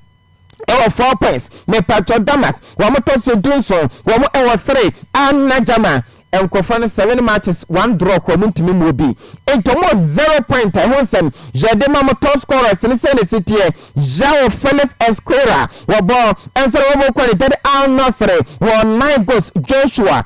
ɛwɔ four points mepatwɔ Damak wɔn tɔ so du nson wɔn ɛwɔ three Al Najama nkɔfa no seven matches one draw kɔ wɔn ntumi mu obi nti wɔn wɔ zero point a ɛho nsɛm yɛde ma wɔn top scorers ne sɛn na ɛsi teɛ João Felix Esquerra wɔbɔ ɛnso na wɔn kɔ ne dade Al Nassr wɔ nine goals Joshua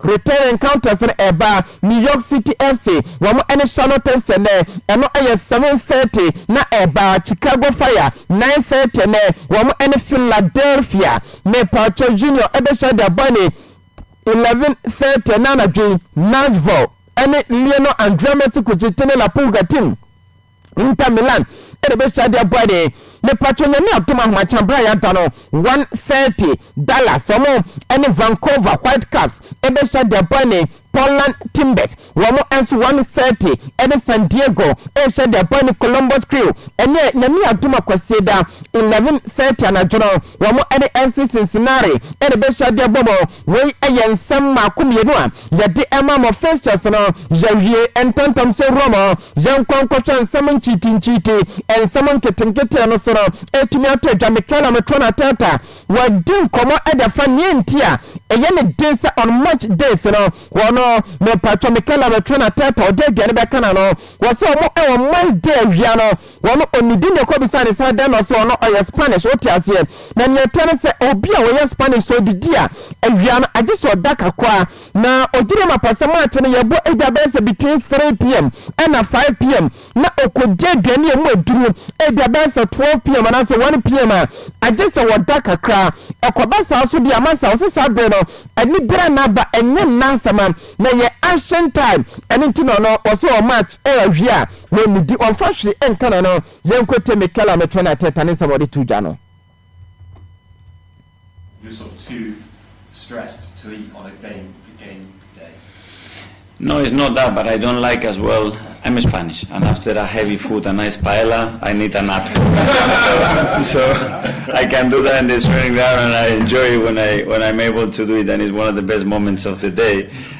Return encounters no ɛba New York City FC wɔn ɛne Charlotte FC ɛnɛ ɛno ɛyɛ seven thirty na ɛba Chicago Fire nine thirty ɛnɛ wɔn ɛne Philadelphia mepakyɛw Union ɛbɛhyia de abɔ ne eleven thirty ɛnɛ anadwo yi Nashville ɛne Lionel André Messi Kuchitini La Pulga team. Inter Milan na ɛbɛhyia de abɔ ani. Mepatwɔ Nyame adom ahomakyena berɛ a yɛada no one thirty Dallas wɔn ne Vancouver Whitecaps bɛhyia de abɔ ani. Portland Timbers wɔn nso one thirty ne San Diego rehyia de abɔ ani. Columbus Crew ɛneɛ Nyame adom a Kwasiada eleven thirty anadwo no wɔn ne FC Cincinnati na ɛbɛhyia de abɔ mu. Wei yɛ nsɛm mmaako mmienu a yɛde rema mo Festus no. Yɛawie ntɛntɛmso Roma. Yɛnkɔ nkɔhwɛ nsɛm nkyiitinkyiiti. Nsɛm nketenkete no so no, ɛtumi atɔ adwa Michaela Matrona Tata. Wɔadi nkɔmmɔ de afa nea enti a ɛyɛ ne den sɛ on March days no, wɔno, mepatwɔ, Michaela Matrona Tata, ɔde aduane bɛka n'ano. Wɔ sɛ wɔn wɔ March day awia no, Wɔn onidi na ɛkɔbisaa no sɛ adɛn na ɔse ɔno ɔyɛ Spanish, wote aseɛ? Na nea ɛteɛ ne sɛ obi a ɔyɛ Spanish sɛ ɔdidi a, awia no agye sɛ ɔda kakwaa. Na ɔgyinaa mu apa sɛ March no yɛbɔ ebi a bɛyɛ sɛ between 3 pm ɛna 5 pm na ɔkɔdi aduane a ɛmu aduru ebi a bɛyɛ sɛ 12 pm anaasɛ 1 pm a agye sɛ wɔda kakra. Ɛkɔba saa so deɛ ama saa, ɔse saa bere no ɛne biara nna aba, ɛnyɛ nna asɛm a na ɛyɛ ancient time, ɛno nti na ɔno ɔse ɔwɔ March ɛyɛ awia a. Wɔn nnidi, wɔmfa hwee nka no no. Yɛnkɔ ntie Mikel a mekyerɛ no Arteta ne nsɛm a ɔde too dwa no.
No it's not that but I don't like as well I'm Spanish and after a heavy food a nice paella I need a nap so I can do that in the training ground and I enjoy it when I when I'm able to do it and it's one of the best moments of the day.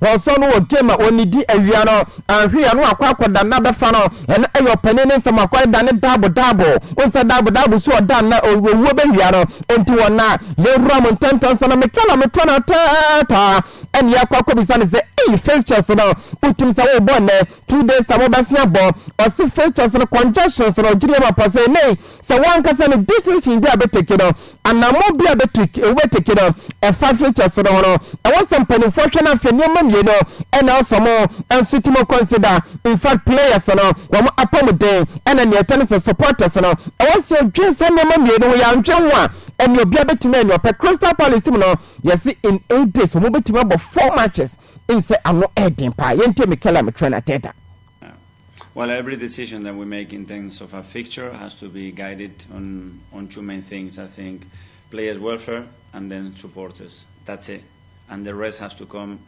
Ɔsɔ no wɔ game a ɔnidi awia no anhwe a na wakɔ akɔda nna bɛfa no ɛno ɛyɛ ɔpanin ne nsɛm wakɔ ɛda ne daabo daabo ɔnsɛ daabo daabo so ɔda nna ɔwuo bɛwia no ɛnti wɔ nna yɛwura mo ntɛntɛn sɛ na metwa na metɔ no ataataa ɛne akɔ akɔ bisa no sɛ ei fixtures no wotim sɛ wobɔ nnɛ two days time wobɛse abɔ ɔse fixtures no conjunctions no ɔgyere yɛ ma pɔ sɛ nei Sɛ wo ankasa no decision bi a bɛtake no, anammɔn bi a bɛtake, wobɛtake no, ɛfa futures no ho no, ɛwɔ sɛ mpanimfoɔ hwɛ no ahwɛ nneɛma mmienu ɛna ɛsɔ mo nso ti mo consider. In fact, players no, wɔn apɔmuden ɛna nea ɛtɛ ne sɛ supporters no, ɛwɔ sɛ wɔdwen saa nneɛma mmienu ho. Yɛanhwɛ ho a, ɛnneɛ obiara bɛtumi ayɛ nea ɔpɛ. Crystal Palace team no, yɛse in eight days wɔbɛtumi abɔ four matches, ɛnim sɛ ano ɛɛden paa. Yɛntie Mikel Armetrɛne Arteta. Well
every decision that we make in terms of our fixture has to be guided on on two main things I think players welfare and then supporters that's it and the rest has to come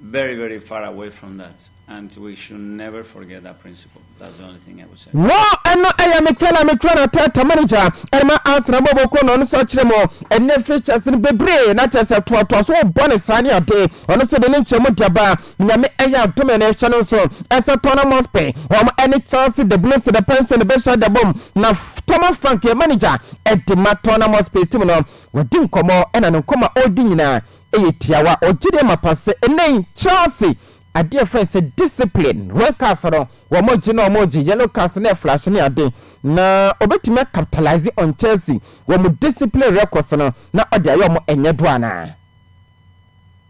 very very far away from that and we should never forget that principle that's the only thing I would say. Wɔ ɛno ɛyɛ
Mikel Armikwana tɛɛtɛ manager ɛma Arsenal bɔ bɔ kɔ na ɔno sɛ kyerɛ mu ɛnɛ fixtures no bebree na kyerɛ sɛ toatoa so bɔ ne saa ne ade ɔno sɛ de ne nkyɛn mu de aba. Nyame ɛyɛ adom ɛna ɛhyɛ no nso ɛsɛ Tottenham Hotspur wɔn ɛne Chelsea the Blues the Pension bɛhyɛ ada bom na Thomas Frank yɛ manager ɛde ma Tottenham Hotspur team no wɔdi nkɔmɔ ɛna ne nkɔmɔ a ɔredi nyinaa ɛyɛ tiawa ɔgye deɛ mapa sɛ ɛnɛ yi Chelsea adeɛ ɛfrɛ sɛ discipline red cards no wɔn gye na wɔn gye yellow cards na ɛflash ne ade na ɔbɛtumi acapitalise on Chelsea wɔn discipline records no na ɔde ayɛ wɔn ɛnyɛ do anaa.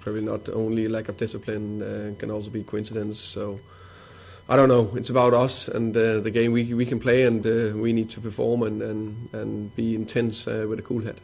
Probably not only lack of discipline, uh, can also be coincidence. So I don't know. It's about us and uh, the game we we can play, and uh, we need to perform and and, and be intense uh, with a cool head.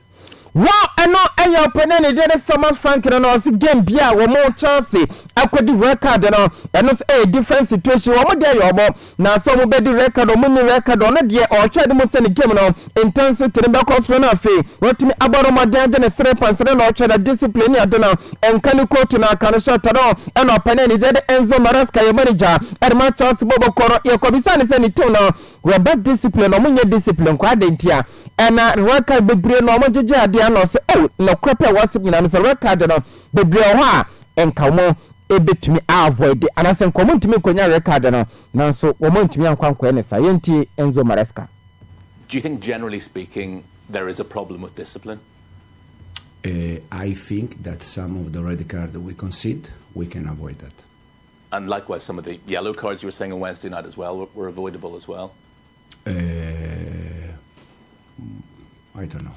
Wow, ɛno
ɛyɛ ɔpɛnɛ ne deɛ ne Thomas Frank no na ɔsi game bi a wɔn Chelsea akɔdi red card no ɛno nso ɛyɛ different situation wɔn deɛ yɛ wɔn Na sɛ ɔmo bɛdi record ɔmo nni record ɔno deɛ ɔɔhwɛ ade mu sɛ ne game no intensity no bɛkɔ soro na afei watumi abɔ no mmɔden agye ne three points no na ɔɔhwɛ na discipline ne ade no nka ne coach no aka no hyɛ atade hɔ ɛna ɔpɛ ne anigyeɛ de Enzo Maresca yɛ manager ɛde ma Chelsea bɔbɔ kɔ no yɛkɔ bisaa no sɛ ne team no wɔba discipline ɔmo nyɛ discipline koraa adɛn nti a ɛna record bebree na ɔmo gyegye adeɛ a na ɔse oh nokorɛ pɛ ɛwɔ asɛm nyinaa no sɛ record no Bebree wɔ hɔ a nka wɔbetumi a avoide anaasɛ nka wɔntumi nkonya red card no, nanso wɔantumi ankɔ ankɔyɛ ne saa. Yɛntie Enzo Maresca. Do you think
generally speaking there is a problem with discipline?
Uh, I think that some of the red card that we concede, we can avoid that. And likewise,
some of the yellow cards you were saying on Wednesday night as well were, were avoidable as well.
Uh, I don't know.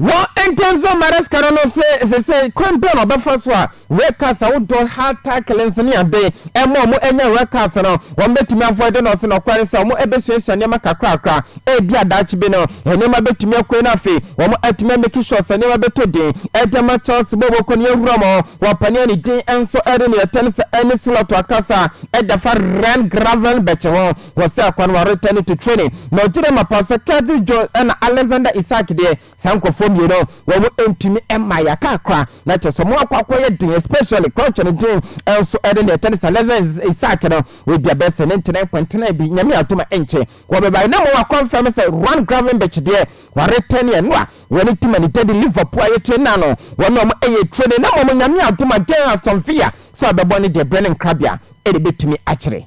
Wɔ
nkyɛn nso, Maresca no no se seesei kwan biara a ɔbɛfa so a Wreckers a wodɔ hard tackles ne ade ma wɔn anya Wreckers no, wɔbetumi avoide no. Ɔse nokware sɛ wɔn besuasua nneɛma kakrakra, ebia daakye bi no nneɛma betumi akɔ yie na afei wɔn atumi a make sure sɛ nneɛma bɛtɔ din de ama Chelsea bɔ a wɔkɔ no. Yɛawura mu wɔ panin a ne din nso de ne Etense Annie Slot akasa da fa Ryan Gravenberch ho. Wɔsɛɛ kwan wɔ retɛne to training na ɔgye dɛ mapa sɛ Curtis Jones na Alexander Isak deɛ saa nkorɔfoɔ mmienu wɔn ntumi mma yɛaka akora na kyerɛ sɛ wɔn akɔ akɔyɛ den especially Crouch ne Jean nso ɛde na ɛtɛne sɛ Alexander Isak no ebia bɛyɛ sɛ ne ntena nkwantenaa bi Nyame adom a ɛnkyɛ wɔbɛbae na mmom wɔakɔnfɛme sɛ Ruan Gravenberch deɛ wɔretɛne ɛno a wɔne team a ne dadi Liverpool a yɛkyerɛ nyinaa no wɔn na wɔn ɛyɛ training na mmom Nyame adom a Gerrard Aston Villa sɛ ɔbɛbɔ no deɛ berɛ ne nkrabea ɛna ɛbɛtumi akyerɛ.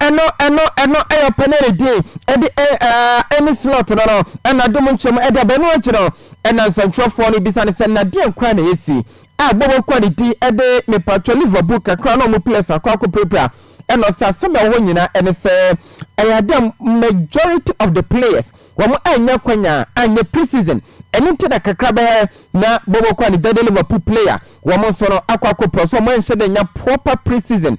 Ɛno ɛno ɛno ɛyɛ panelidi ɛde ɛɛ ɛɛ ɛne slot no no ɛna dom nkyɛmu ɛde aba ɛno akyi no ɛna nsɛntwerɛfoɔ no bisa no sɛ na deɛn koraa na ɛsi a bɔ wɔn kɔ ne ti ɛde mepatwɔ Liverpool kakra na wɔn players akɔ akɔ pirapira ɛna ɔsɛ asɛm a ɛwɔ hɔ nyinaa ɛne sɛ ɛyɛ adeɛ a majority of the players wɔn annya kwanya anyɛ pre-season ɛno nti na kakra bɛyɛ na bɔ wɔn kɔ ne dɛde Liverpool player wɔn nso no akɔ akɔ pira so wɔn anhyɛ dɛ nya proper pre-season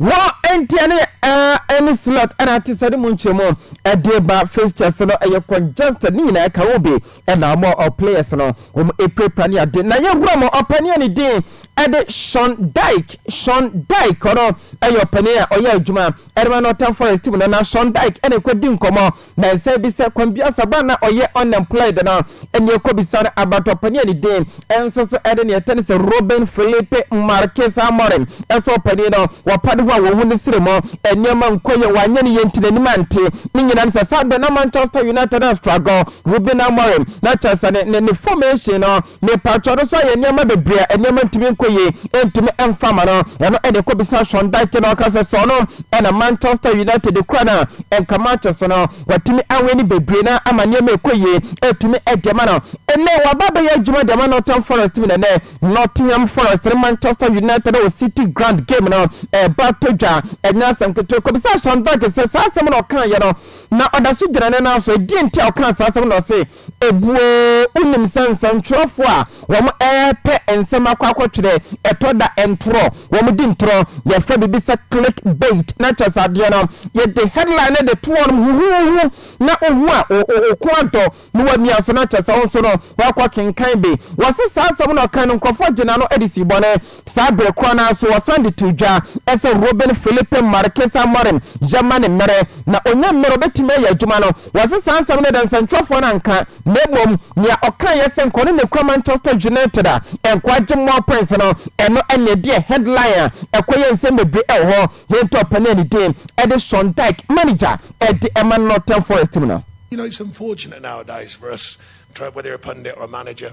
Wɔ
nteɛ no ara ɛne slot ɛna atesɛde mu nkyerɛmu ɛde ba fixtures no ɛyɛ congested ne nyinaa ɛka ho bi ɛna wɔn a ɔ players no wɔn ɛpirapira ne ade na yɛ hura mo ɔpanin a ne din ɛde Sean Dyke Sean Dyke ɔno ɛyɛ ɔpanin a ɔyɛ adwuma ɛde ma Nottingham Forest team no na Sean Dyke ɛna ɛkɔ di nkɔmɔ Nansa bi sɛ Kwambi Asaba na ɔyɛ unemployed no, ɛnneɛ ɔkɔbisa no abatoɔ panin a ne din nso so de neɛ ɛte ne sɛ Ruben Felipe Marques Amorim sɛ ɔpanin no, wapa ne ho a wɔhu ne srɛ mu nneɛma nkɔ yie a wanyɛ no yie nti n'anim ante. Ne nyinaa ne sɛ saa berɛ na Manchester United restruggle Ruben Amorim na kyerɛ sɛ ne ne formation no Mepakyɛw no nso ayɛ nneɛma bebree a nneɛma ntumi nkɔ yie, ɛntumi mfa mma no. Ɛno ɛde kɔbisa Sean Dyche na ɔka sɛ sɛ ɔno ɛna Manchester United kura no a, nka matches no watumi awini bebree na ama nneɛma ɛkɔ yie atumi ɛde ama no. Ɛnɛ waba abɛyɛ adwuma de ama Nottingham Forest mu na ɛnɛ Nottingham Forest ne Manchester United wɔ City Ground game no ɛreba atɔ dwa. Ɛnyɛ asɛm ketewa. Kɔbisa Sean Dyche sɛ saa asɛm no ɔkaeɛ no na ɔda so gyina ne nan so. Ɛdeɛn nti a ɔkaa saa asɛm no na ɔse. Ebuo, Wonim sɛ nsɛntwerɛfoɔ a wɔrepɛ nsɛm akɔ akɔtwerɛ, ɛtɔ da ntorɔ, wɔdi ntorɔ. Yɛfrɛ biribi sɛ click bait na kyerɛ sɛ adeɛ no, yɛde headline no de to hɔ nom huhuuhu na wohu a, wo kɔn adɔ na woamia so na kyerɛ sɛ wo nso no, woakɔkenkan bi. Wɔse saa asɛm no a ɔkae no, nkurɔfoɔ gyee no ano de sii bɔne. Saa bere koro no ara nso, wɔsan de too dwa sɛ Ruben Filipe Marques Amorim yɛ ma ne mmere, na onnya mmere a obetumi ayɛ adwuma no. Wɔse saa nsɛm no adansɛnkyerɛfoɔ no anka, na mmom nea ɔkaeɛ sɛ nkɔ ne ne kura Manchester United a nkɔ agye more points no, ɛno na ɛdeɛ headline a ɛkɔ yɛ nsɛm bebree ɛwɔ hɔ. Yɛn top panyin a ne din de Sean Dyche, manager de ma Nottingham Forest mu no. United is unfortunate
nowadays for us, whether a pundit or a manager.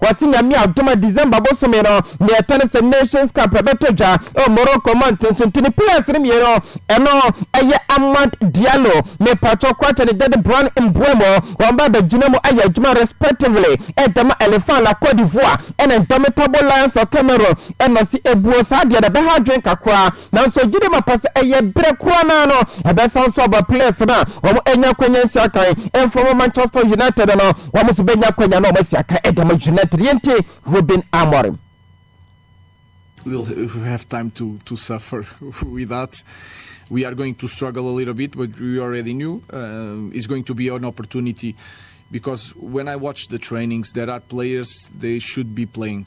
Wɔse Nyame adom a December bosome no, nea ɛtɔ ne sɛ Nations Cup bɛtɔ dwa wɔ Morocco mmɔnten so nti ne players no mmienu, ɛno ɛyɛ Amad Diallo ne Patrick Quarta ne Jade Brown Mbeumo, wɔn ba bɛgyina mu ayɛ adwuma respectively de ma Elephants la Cote d'Ivoire ɛne Indomitable Lions of Cameroon, ɛna ɔse ebuo saa deɛ na ɛbɛha adwene kakra. Nanso gyidi ma pɛ sɛ ɛyɛ bere koro no ara no ɛbɛsan nso aba players no a wɔanya akwanya nsi akan mfa wɔn Manchester United no wɔn nso bɛnya akwanya na wɔn asi akan de ama United yɛn tie Ruben Amorim. We'll
have time to to suffer with that. We are going to struggle a little bit, but we already knew uh, it's going to be an opportunity because when I watch the trainings, there are players they should be playing.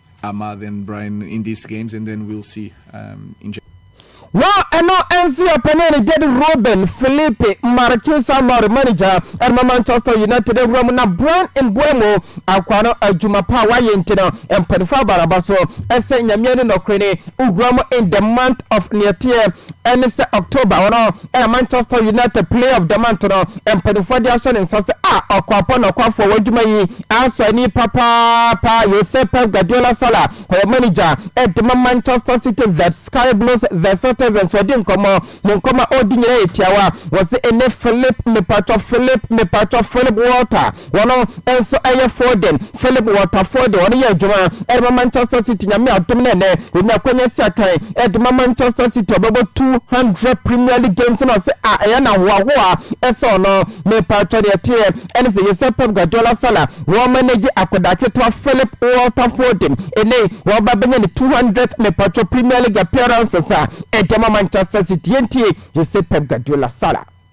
Wɔ
ɛno nso a panyin Gerd Ruben, Filipe Marques a lɔre manegya de ma Manchester United awura mu na Bryan Mbeumo akoa no adwuma pa a wayɛ nti no, mpanyimfo abɔ n'aba so sɛ Nyame ani nɔkore ni, wura mu in the month of nea ɛteɛ ne sɛ October, wɔn a Ɛna Manchester United Player of the Month no, mpanimfoɔ de ahyɛ ne nsa sɛ a ɔkwapo nɔkwafoɔ w'adwuma yi asɔ ani papaapa Jose Pep Guardiola Salah ɔyɛ manager de ma Manchester City The Sky Blues The Citizens ɔdi nkɔmmɔ ne nkɔmmɔ a ɔredi nyinaa yɛ tiawa wɔse ɛne Philip mepatwɔ Philip mepatwɔ Philip Walter Wɔno nso yɛ Foden, Philip Walter Foden, ɔno yɛ adwuma de ma Manchester City, Nyame adom no ɛnnɛ ɔnya akwanya asi akan de ma Manchester City, ɔbɛbɔ 200 Premier League games na ɔse ah ɛyɛ no ahoahoa sɛ ɔno, mepaatwɔ deɛ ɛteɛ ɛne sɛ yɛsɛ Pep Guardiola Salah wɔn manage akwadaa ketewa Philip Walter Foden, ɛnɛ wɔba bɛnya ne 200th mepaatwɔ Premier League appearances a ɛde ma Manchester City, yɛntie yɛsɛ Pep Guardiola Salah.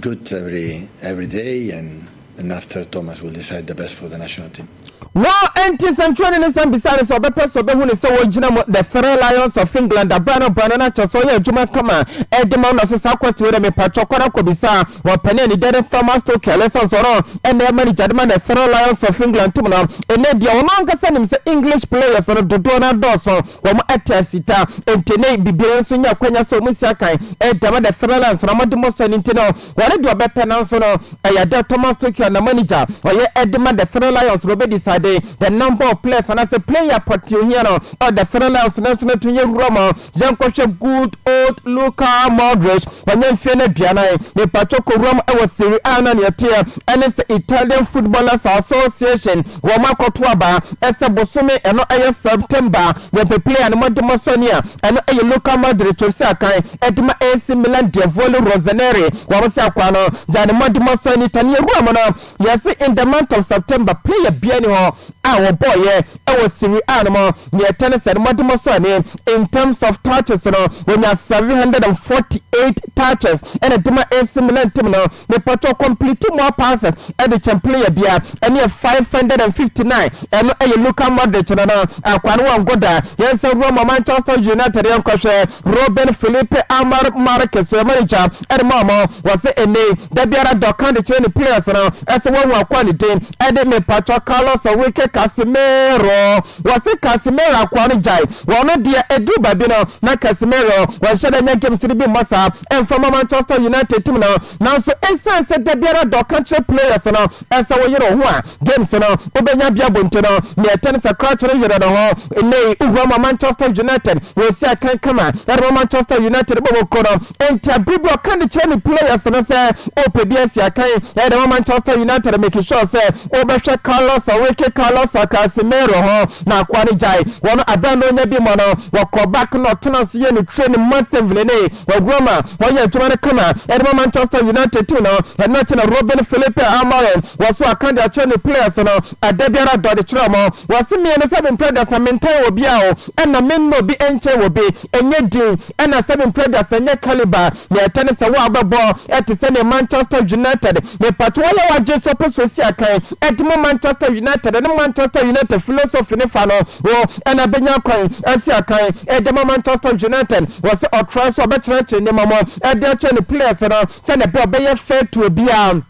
Good every every day and and after Thomas will decide the best for the national team. No enti
nsɛnkyerɛwni no san bisaa no sɛ ɔbɛpɛ sɛ ɔbɛhu no sɛ ɔgyina mu The Three Lions of England abaa no abaa no na kyerɛ sɛ ɔyɛ adwuma kama de ma wo na ɔse saa question wei deɛ mepakyɛw kɔ na kɔbisa wɔn panin anigyede Thomas Tuchel ɛsiane sɛ ɔno ɛna ɛyɛ manager de ma The Three Lions of England team no ɛnɛ deɛ ɔno ankasa nim sɛ English players no dodoɔ no adɔɔso Wɔn atɛɛse ta ntene biribiara nso nya akwanya sɛ wɔn si akan. Dɛm na fɛrɛ la nso na wɔde mmɔ sɔ no nti no, wɔn deɛ wɔbɛpɛ nanso no, ɛyɛ dɛ Thomas Tuchel na manager ɔyɛ de ma the Fɛrɛ Lions no bɛdecide the number of players anaasɛ player pɔtee ohia no wɔ the Fɛrɛ Lions nanso no to yɛwura mu a, yɛnkɔhwɛ good old Luka Modric, wanya mfeɛ no aduanan, mepatwɔ kɔwura mu wɔ Serie A no a nea ɛteɛ ne sɛ Italian Footballers Association wɔn akɔto aba. Ɛsɛ bosome, ɛno ɛyɛ September, wɔ bɛ player no mo de mo sɔ nea ɛno ɛyɛ Luka Modric ɔsi akan ɛde ma AC Milan Diavoli Rossoneri wɔn se akwaa no gya ne mo de mo sɔ nita nea ɛwura mu no yɛse in the month of September player biara ni hɔ a wɔbɔɔ yɛ ɛwɔ Serie A no mo nea ɛtɛ ne sɛ ne mo de mo sɔ ne in terms of touches no wɔnya 748 touches ɛna ɛde ma AC Milan team no. Mepatɔ complete more passes de kyɛn player biara ɛne yɛ five hundred and fifty nine ɛno ɛyɛ Luka Modric no no akoa no wɔngo da yɛnsan wura ma Manchester United yɛnkɔhwɛ Ruben Felipe Amar Marques yɛ manager ɛde ma ɔmo wɔse ɛnɛyi da biara da ɔka de kyerɛ ne players no ɛsɛ wɔahu akoa ne din ɛde mepatɔ Carlos Enrique Casemiro wɔse Casemiro akoa no gyae Wɔn no deɛ ɛduru baabi no, na Casemiro wɔnhyɛ da nya games no bi mmɔ saa ɛmfa mma Manchester United team no. Nanso ɛsiane sɛ da biara da ɔka kyerɛ players no sɛ woyere wo ho a, games no wobɛnya bi abɔ nti no, nea ɛte ne sɛ Crouch no yere ne ho. Nnɛyi, wohua ma Manchester United wɔresi akan kama de ma Manchester United bɔ wɔn kuo no. Enti aber bi ɔkã do kyerɛ ne players no sɛ ɔpɛ bi esi akan, yɛyɛ dɛm wɔ Manchester United a make sure sɛ wobɛhwɛ Carlos Enrique Carlos Casemiro ho na akoa no gyae hɔn aber a nna onya bi mɔ no, wɔkɔ back na ɔtsena ase yɛ no training massively ne wɔ Roma, wɔyɛ edwuma no kama dze ma Manchester United team no, hɛn na ɔkyena Ruben Felipe Amorim wɔ so akã dze akyerɛ ne players no ada biara dɔ dze kyerɛ ɔmo, wɔse me nye ne seventh brother sɛ menntɛn obiara o nna menna obi nnkyɛn obi, Ɛnyɛ din na sɛbi mprɛ da sɛ nyɛ calibre nea ɛtɛ ne sɛ wo a wobɛbɔ te sɛ nea Manchester United mepatwo ayɛ w'adwene sɛ wopɛ sɛ osi akan de mo Manchester United ne Manchester United philosophy no fa no ho na bɛnya kwan asi akan de ama Manchester United wɔ sɛ ɔtrae so a ɔbɛkyerɛkyerɛ nneɛma mu de akyerɛ ne players no sɛnea ɛbɛyɛ a ɔbɛyɛ fair to obiara.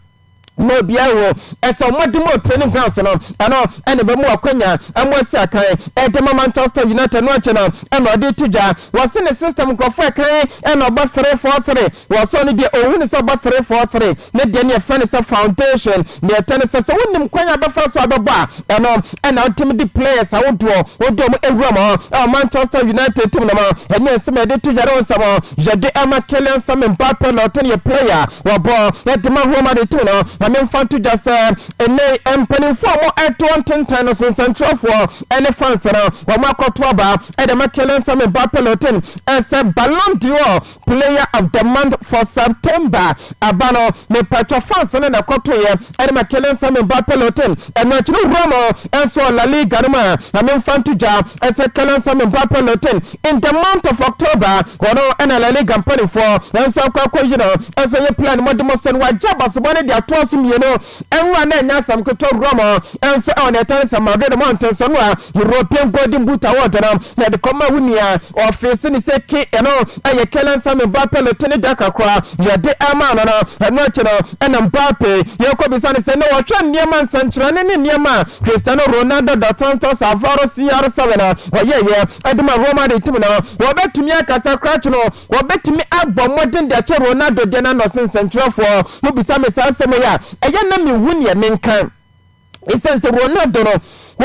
ma obiara wɔ ɛsɛ wɔn de mu training grounds no ɛno ɛna ɛbɛmu akwanya ɛmu asi akan ɛde ma Manchester United no akyɛ no ɛna ɔde to dwa wɔse ne system nkurɔfoɔ ɛkan ɛna ɔbɔ 3-4-3 wɔsɔ no deɛ ɔhu ne sɛ ɔbɔ 3-4-3 ne deɛ ne ɛfɛ ne sɛ foundation ne ɛtɛ ne sɛ sɛ wonim kwan a bɛfa so a bɛbɔ a Ɛno na ɔtumi de players ahodoɔ ɔde wɔn awura mu ɛwɔ Manchester United team no mu. Ɛnyɛ nsɛm a yɛde to yɛn ho nsɛm yɛde ɛma Kylian Samuel Mbappe na ɔtɛn yɛ player wɔbɔ ɛde ma Real Madrid team no. Ma me nfa nto dwa sɛ ɛnɛ mpanimfoɔ a wɔn ɛto ntentan no so nsɛnkyerɛfoɔ ɛne fans no wɔn akɔto aba ɛde ma Kylian Samuel Mbappe na ɔtɛn ɛsɛ Ballon d'Or Player of the month for September aba no, mepatwa fans no na ɛkɔtoeɛ ɛne ma Kylian Samuel Mbappe Lotte. Ɛno akyi no wura mo nso wɔ La Liga no mu a, ma memfa nto dwa sɛ Kylian Samuel Mbappe Lotte in the month of October, ɔno na La Liga mpaninfoɔ nso akɔ akɔyi no. Ɛnso ɛyɛ plan, mode mo sɛ no wagye abasebɔ no de atoa so mmienu. Ɛnwa na ɛnyɛ asɛm ketewa wura mu nso ɛwɔ nea ɛtɛne sɛ Madrid mmɔnten so no a European Golden Boot Award no na ɛde kɔma wo nua ɔfese ne sɛ Ke ɛno ɛyɛ Kylian Sami Mbappe no tene da kakra nea ɛde ɛmaa no no. Ɛno akyi no ɛna Mbappe yɛ kɔbisa no sɛ na ɔhwɛ nneɛma nsɛnkyerɛnne ne nneɛma a Cristiano Ronaldo dos Santos Avaro CR7 a ɔyɛeɛ ɛde ma Real Madrid tim no ɔbɛtumi akasa korakye no Wɔbɛtumi abɔ mmɔden de akyɛ Ronaldo deɛ no ano sen nsɛnkyerɛwfoɔ. Mobisa me saa nsɛm yi a, ɛyɛ na menhu neɛ menka. Ɛsiane sɛ Ronaldo no,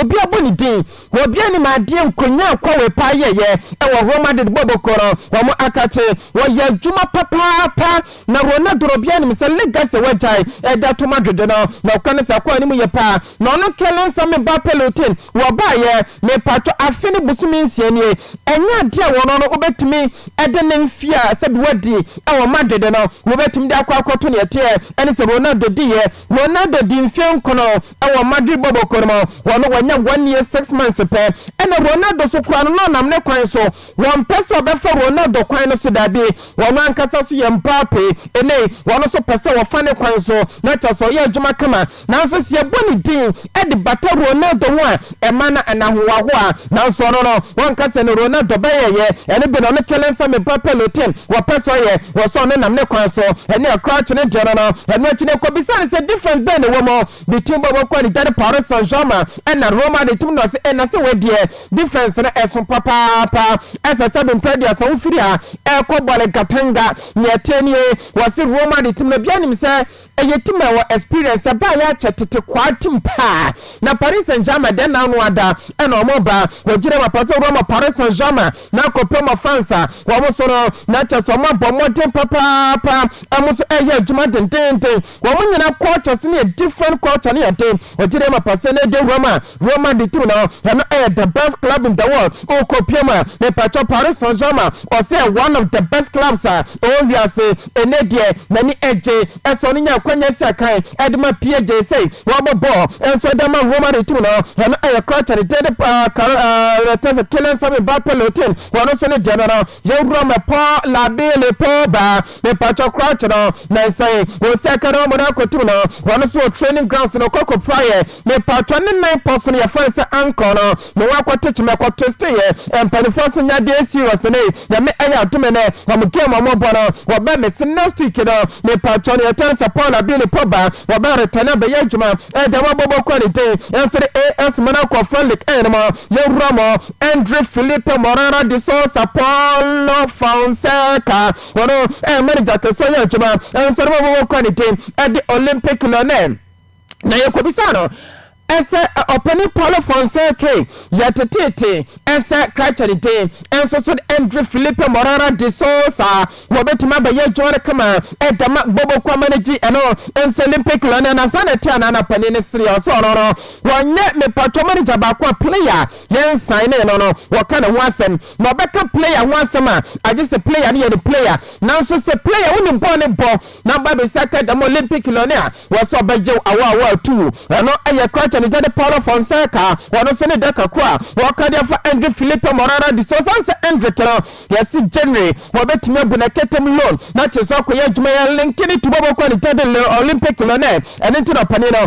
obi abɔ ne din, obi anim adeɛ nkonyaa kwawe paa yɛeɛ ɛwɔ Real Madrid bɔɔbɔ kuo no, wɔn akakye, wɔyɛ adwuma papaapa, na Ronaldo no obi anim sɛ legacy a wagyae ɛde ato Madrid no, na ɔkɔ ne saa kwan no mu yie paa. Na ɔno nkeɛ Lens Ame Ba Peloton, wɔbaeɛ. Mepaatɔ afe ne bosome nsia nie ɛnyɛ adeɛ a wɔno no wobɛtumi de ne mfeɛ a sɛbi wadi wɔ Madrid no wobɛtumi de akɔ akɔto neɛ ɛteɛ ɛne sɛ Ronaldo diiɛ Ronaldo dii mfeɛ nkono wɔ Madrid bɔbɔkɔ no mu wɔno wanya one year six months pɛ ɛna Ronaldo so koraa no na ɔnam ne kwan so Wɔmpɛ sɛ wɔbɛfa wɔn nna dɔ kwan no so, dabi, wɔn ankasa nso yɛ mmaa pɛ. Ɛnnɛ yi, wɔn nso pɛ sɛ wɔfa ne kwan so, na kyerɛ sɛ ɔyɛ adwuma kama. Nanso sɛ yɛbɔ ne din de bata Ronaldo ho a, ɛma na ɛna hoahoa. Nanso ɔno no, wɔnka sɛ ne Ronaldo bɛyɛeɛ. Ɛno bi na ɔno Kelensah Mebah Pelotin wɔpɛ sɛ ɔyɛ, wɔ sɛ ɔno nam ne kwan so. Ɛne a Crouch no deɛ no no, ɛno akyi no yɛkɔbisaa no sɛ difference bɛn na ɛwɔ mu between bɔbɔ kɔ ne dade Paris Saint-Germain ɛna Roma de tim no ɔse ɛna sɛ wei deɛ, Defence no ɛso papaapa. Ɛsɛ sɛ dompɛ aduasa wo firi ha ɛrekɔ Bɔle Katanga. Nea ɛteɛ nie, wɔse Roma de tim no biara nim sɛ ɛyɛ tim a ɛwɔ experience, ɛbaeɛ akyɛ tete kwaa tim paa. Na Paris Saint Germain deɛ nna ano ada ɛna wɔn reba. Wɔgyina mu apa sɛ Roma Paris Saint Germain na akɔpem wɔ France a wɔn so no, na kyerɛ sɛ wɔn abɔ mmɔden papaapa, wɔn nso ɛreyɛ adwuma dendeenden. Wɔn nyinaa cultures no yɛ different culture no yɛ den ɔgye deɛ ma pasɛ na ɛde Roma Roma de team no ɛno ɛyɛ the best club in the world wokɔ pie mu a mepatwɔ Paris Saint Germain ɔsɛ yɛ one of the best clubs a ɛwɔ wiase ɛnɛ deɛ n'ani ɛgye ɛsɛ ɔno nya akwanya asi akan ɛde ma PSG sɛ wɔbɔ bɔɔl ɛnso ɛde ama Roma de team no ɛno ɛyɛ culture no deɛ de paa Kar ɛɛ tɛsɛ Kylian Sabi Mbappe Lotin wɔn nso ne deɛ no no Yɛwura me pɔ labi ne pɔ ba me pɔtɔ kura kyerɛ na nsɛn wɔn sɛ kɛrɛ wɔn na kotum no wɔn nso wɔ training grounds no kɔkɔ pura yɛ me pɔtɔ ne nan pɔ so no yɛfrɛ no sɛ ankɔ no me wɔn akɔ teach me kɔ twist yɛ mpanimfoɔ nso nya deɛ serious ne nyame ɛyɛ adome nɛ wɔn game wɔn bɔ no wɔbɛ me se next week no me pɔtɔ no yɛkyɛ no sɛ pɔ labi ne pɔ ba wɔbɛ return abɛyɛ adwuma ɛdɛ wɔbɔbɔ kɔ ne din ɛnso de AS mo no akɔ friendly ɛyɛ no mo yɛwura mo Andre Filipe Moreira de Sousa Paulo Fonseca, wɔn ɛyɛ manager kɛseɛ yɛ adwuma, nso no wɔn wɔkura ne din ɛde Olympic Lyonnais na yɛkɔbisa no ɛsɛ ɔpanin Paulo Fonseca yɛ teteete ɛsɛ krakyɛ ne din nso so Andre Filipe Moreira de Sousa wɔbɛtumi abɛyɛ adwuma no kama ɛda ma Bobo Kwama no gye ɛno nso Olympic Lyonnais na saa na ɛte anaa na panin no sere ɔsɛ ɔno no wɔnyɛ mepatwɔ manager baako a player Yɛnsan ne no no, wɔka ne ho asɛm, na ɔbɛka player ho asɛm a, agye sɛ player no yɛ ne player. Nanso sɛ player wonim bɔɔl no bɔ, na aba abɛsi ka dɛm Olympic no ne a, wɔ sɛ ɔbɛgyew awɔ awɔ atuu. Ɛno yɛ Kraten agya de Paulo Fonseca, ɔno nso ne daka koro a wɔka de afa Andre Filipe Morara de. Sɛ ɔsan sɛ Endrick no, yɛse January, wɔbɛtumi abu no ɛkɛtɛm loan, na kyerɛ sɛ ɔkɔyɛ adwuma, yɛnlinke ne to bɔbɔ kɔ ne gya de Lille Olympic no ne, ɛno nti na ɔpanin no.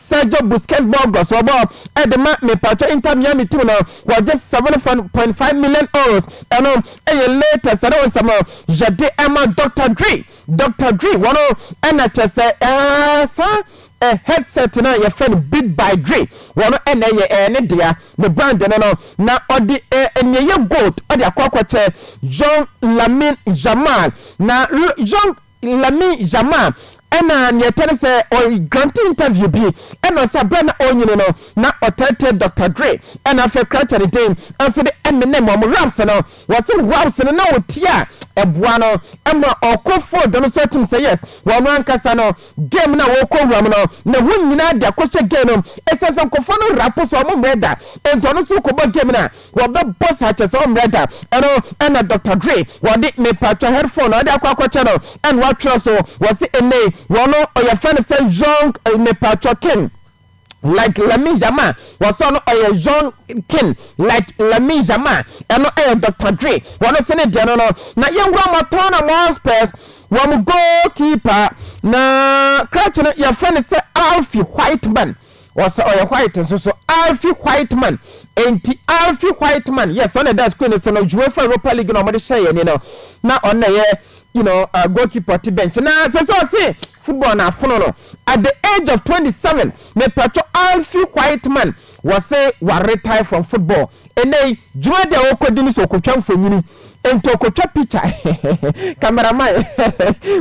Sergio Busquets Burgos wɔbɔ de ma me patrɔ Inter Miami team no wɔgye seven point five million euros ɛno yɛ latest ɛne nsɛm a yɛde ɛma Doctor Dre Doctor Dre wɔn ɛna kyɛ sɛ ɛɛ saa ɛ headset no a yɛfrɛ no Beat by Dre wɔn ɛna ɛyɛ ɛɛ ne dea ne brand no no na ɔde ɛɛ nea ɛyɛ gold ɔde akɔ akɔkyɛ Young Lamine Yamal na Young Lamine Yamal na nea ɛtɔ no sɛ ɔ grante interview bi na ɔsɛ berɛ a na ɔrenyini no na ɔteetee Doctor Dre na afei krantɛ no din nso de menem wɔn raps no wɔse raps no na ɔtie a ɛboa no ma ɔkɔ field no so atum sɛ yes ɔno ankasa no game no a ɔrekɔ wura mu no ne ho nyinaa de akɔhyɛ game no mu ɛsiane sɛ nkurɔfoɔ no rapo so wɔn mmerɛ da enti ɔno nso rekɔbɔ game no a Wɔbɛbɔ saa kyɛ sɛ ɔmmrɛ da. Ɛno na Doctor Dre wɔde mepatwa headphone a ɔde akɔ akɔkyɛ no na watwerɛ so. Wɔse ɛnnɛ yi wɔn wɔyɛfrɛ no sɛ Young mepatwa King like Lamine Yamal. Wɔse ɔno ɔyɛ Young King like Lamine Yamal. Ɛno ɛyɛ Doctor Dre wɔn se ne deɛ no no. Na yɛnwura ma Tottenham Hotspurs wɔn goalkeeper na krakye no yɛfrɛ no sɛ Alfie Whiteman. Ɔsɛ ɔyɛ white nso so Alfie Whiteman enti Alfie Whiteman yes ɔna ɛda screen no so no UEFA Europa League na wɔde hyɛ yɛn ani no na ɔno na ɛyɛ you know uh, goalkeeper ɔte bench na sɛ sɛ ɔse football na afono no at the age of 27 mepatwɔ Alfie Whiteman wɔse wa retire from football ɛnɛ yi dwuma deɛ wɔkɔdi no sɛ ɔkɔtwa mfonyini Enti ɔkɔtwa picture camera man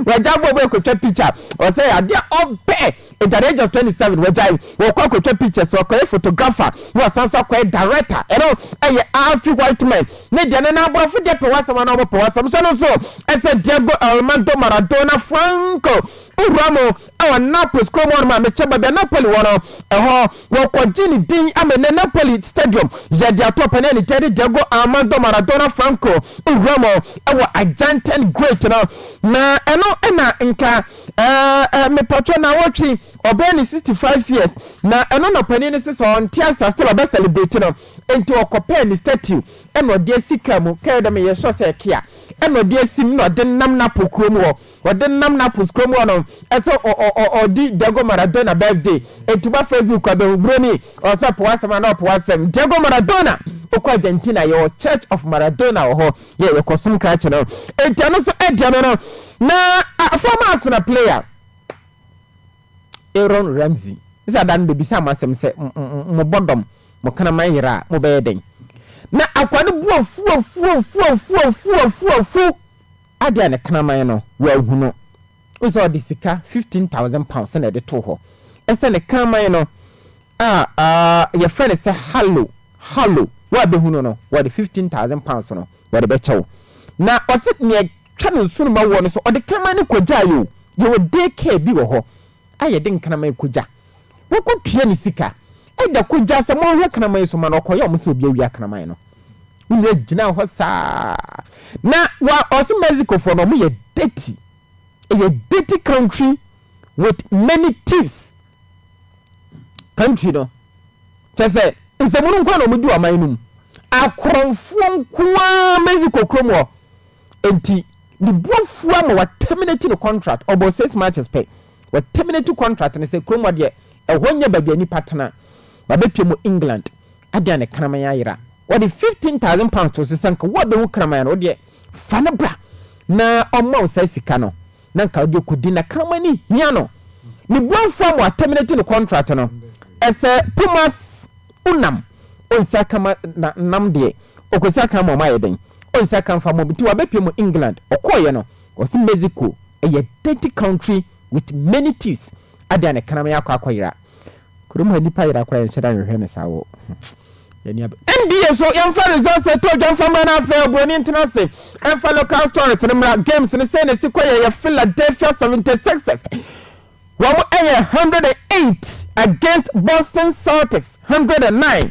wagyae bɔɔl bɔ kɔtwa picture ɔsɛ adeɛ a ɔpɛ at the age of twenty seven wagyae wɔkɔ akɔtwa pictures wakɔyɛ photographer na wasan so akɔyɛ director ɛno ɛyɛ Alfie Whiteman ne deɛ no na aborɔfo deɛ pɛ w'asɛm anaa wɔpɛ w'asɛm sɛ no nso ɛsɛ Diego Armando Maradona Franco Uramo wɔ Naples kurom hɔnom a mekyɛ baabi a Napoli wɔ no, ɛhɔ wɔkɔgye ne din ama nnɛ Napoli Stadium yɛ de ato ɔpanin a ne din de Diego Armando Maradona Franco wura mu wɔ Argentine great no, na ɛno na nka ɛɛ mepatwɔ na wɔtwe ɔbɛyɛ ne 65 years na ɛno na ɔpanin no sesɛ ɔnte asa still ɔbɛ celebrate no nti wɔkɔpɛɛ ne statue ɛna ɔde asi kaa mu kɛɛ dɛm yɛ sɔ sɛ ɛkea ɛna ɔde asim na ɔde nam Napoli kurom wɔ Ɔde nam Naples kurom hɔ no ɛsɛ ɔdi Diego Maradona birthday enti ba Facebook a bɛhu broni ɔsɛ ɔpɛ wasɛm anaa ɔpɛ wasɛm Diego Maradona ɔkɔ Argentina yɛwɔ church of Maradona wɔ hɔ yɛ yɛkɔ som krakye no enti ɛno nso ɛdeɛ no no na former Arsenal player Aaron Ramsey sɛ ada no bɛbisa mo asɛm sɛ mo bɔdɔm mo kraman yera a mo bɛyɛ dɛn na akwa no bu afuafuafuafuafuafuafu Adɛn a ne kraman no, wɔanhu no? Wohu sɛ ɔde sika fifteen thousand pounds na ɛde too hɔ. Ɛsɛ ne kraman no a wɔfrɛ no sɛ Hallo, Hallo, wo a bɛhu no no, wɔde fifteen thousand pounds no wɔde bɛkyɛ wo. Na ɔse nea ɛtwa no nsono ma woɔ no so, ɔde kraman no kɔgyaeɛ o. Yɛwɔ day care bi wɔ hɔ a yɛde nkraman kɔgya. Wɔkɔ tua ne sika. Agya kɔgyaa sɛ monhwɛ kraman yi so ma no, ɔkɔyɛ ɔmo sɛ obi awia kraman no. Me nua gyinaa hɔ saa. Na wa ɔse Mexico foɔ no ɔmo yɛ dirty. Ɛyɛ dirty country with many thieves country no. Kyɛ sɛ nsɛmunu nkoa na ɔmo di wɔ aman no mu. Akorɔmfoɔ nkoa Mexico kurom hɔ. Enti ne bu afua ma wa terminate ne contract. Ɔbɔɔ six matches pɛ. Wɔ terminate contract no sɛ kurom hɔ deɛ ɛhɔ nyɛ baabi a nipa tena. Wabɛpie mu England. Adeɛ a ne kraman ayera. Wɔde fifteen thousand pounds too so sɛ nka wo a bɛhu kraman no wodeɛ fa no bra na ɔmma wo saa sika no na nka wode kɔdi na kraman no hia no. Ne buafoɔ ama wa terminate ne contract no ɛsɛ Pumas Unam ɔnsi aka ma na nam deɛ ɔkɔsi aka ama ɔmo ayɛ dɛn ɔnsi aka mfa mɔ bi nti wabɛpie mu England. Ɔkɔɔeɛ no. Wɔse Mexico yɛ dirty country with many thieves adeɛ a ne kram yɛ akɔ akɔ yera kurom ha nipa yera koraa yɛnhyɛda nhwehwɛ ne saa wɔ yɛni ab. NBA so yɛnfa results ɛtɔ odwa nfa mra na afei obroni ntena ase ɛnfa local stories no mra games no sei na esi kɔ yɛyɛ Philadelphia seventy sixers wɔn ɛyɛ hundred and eight against Boston Celtics hundred and nine.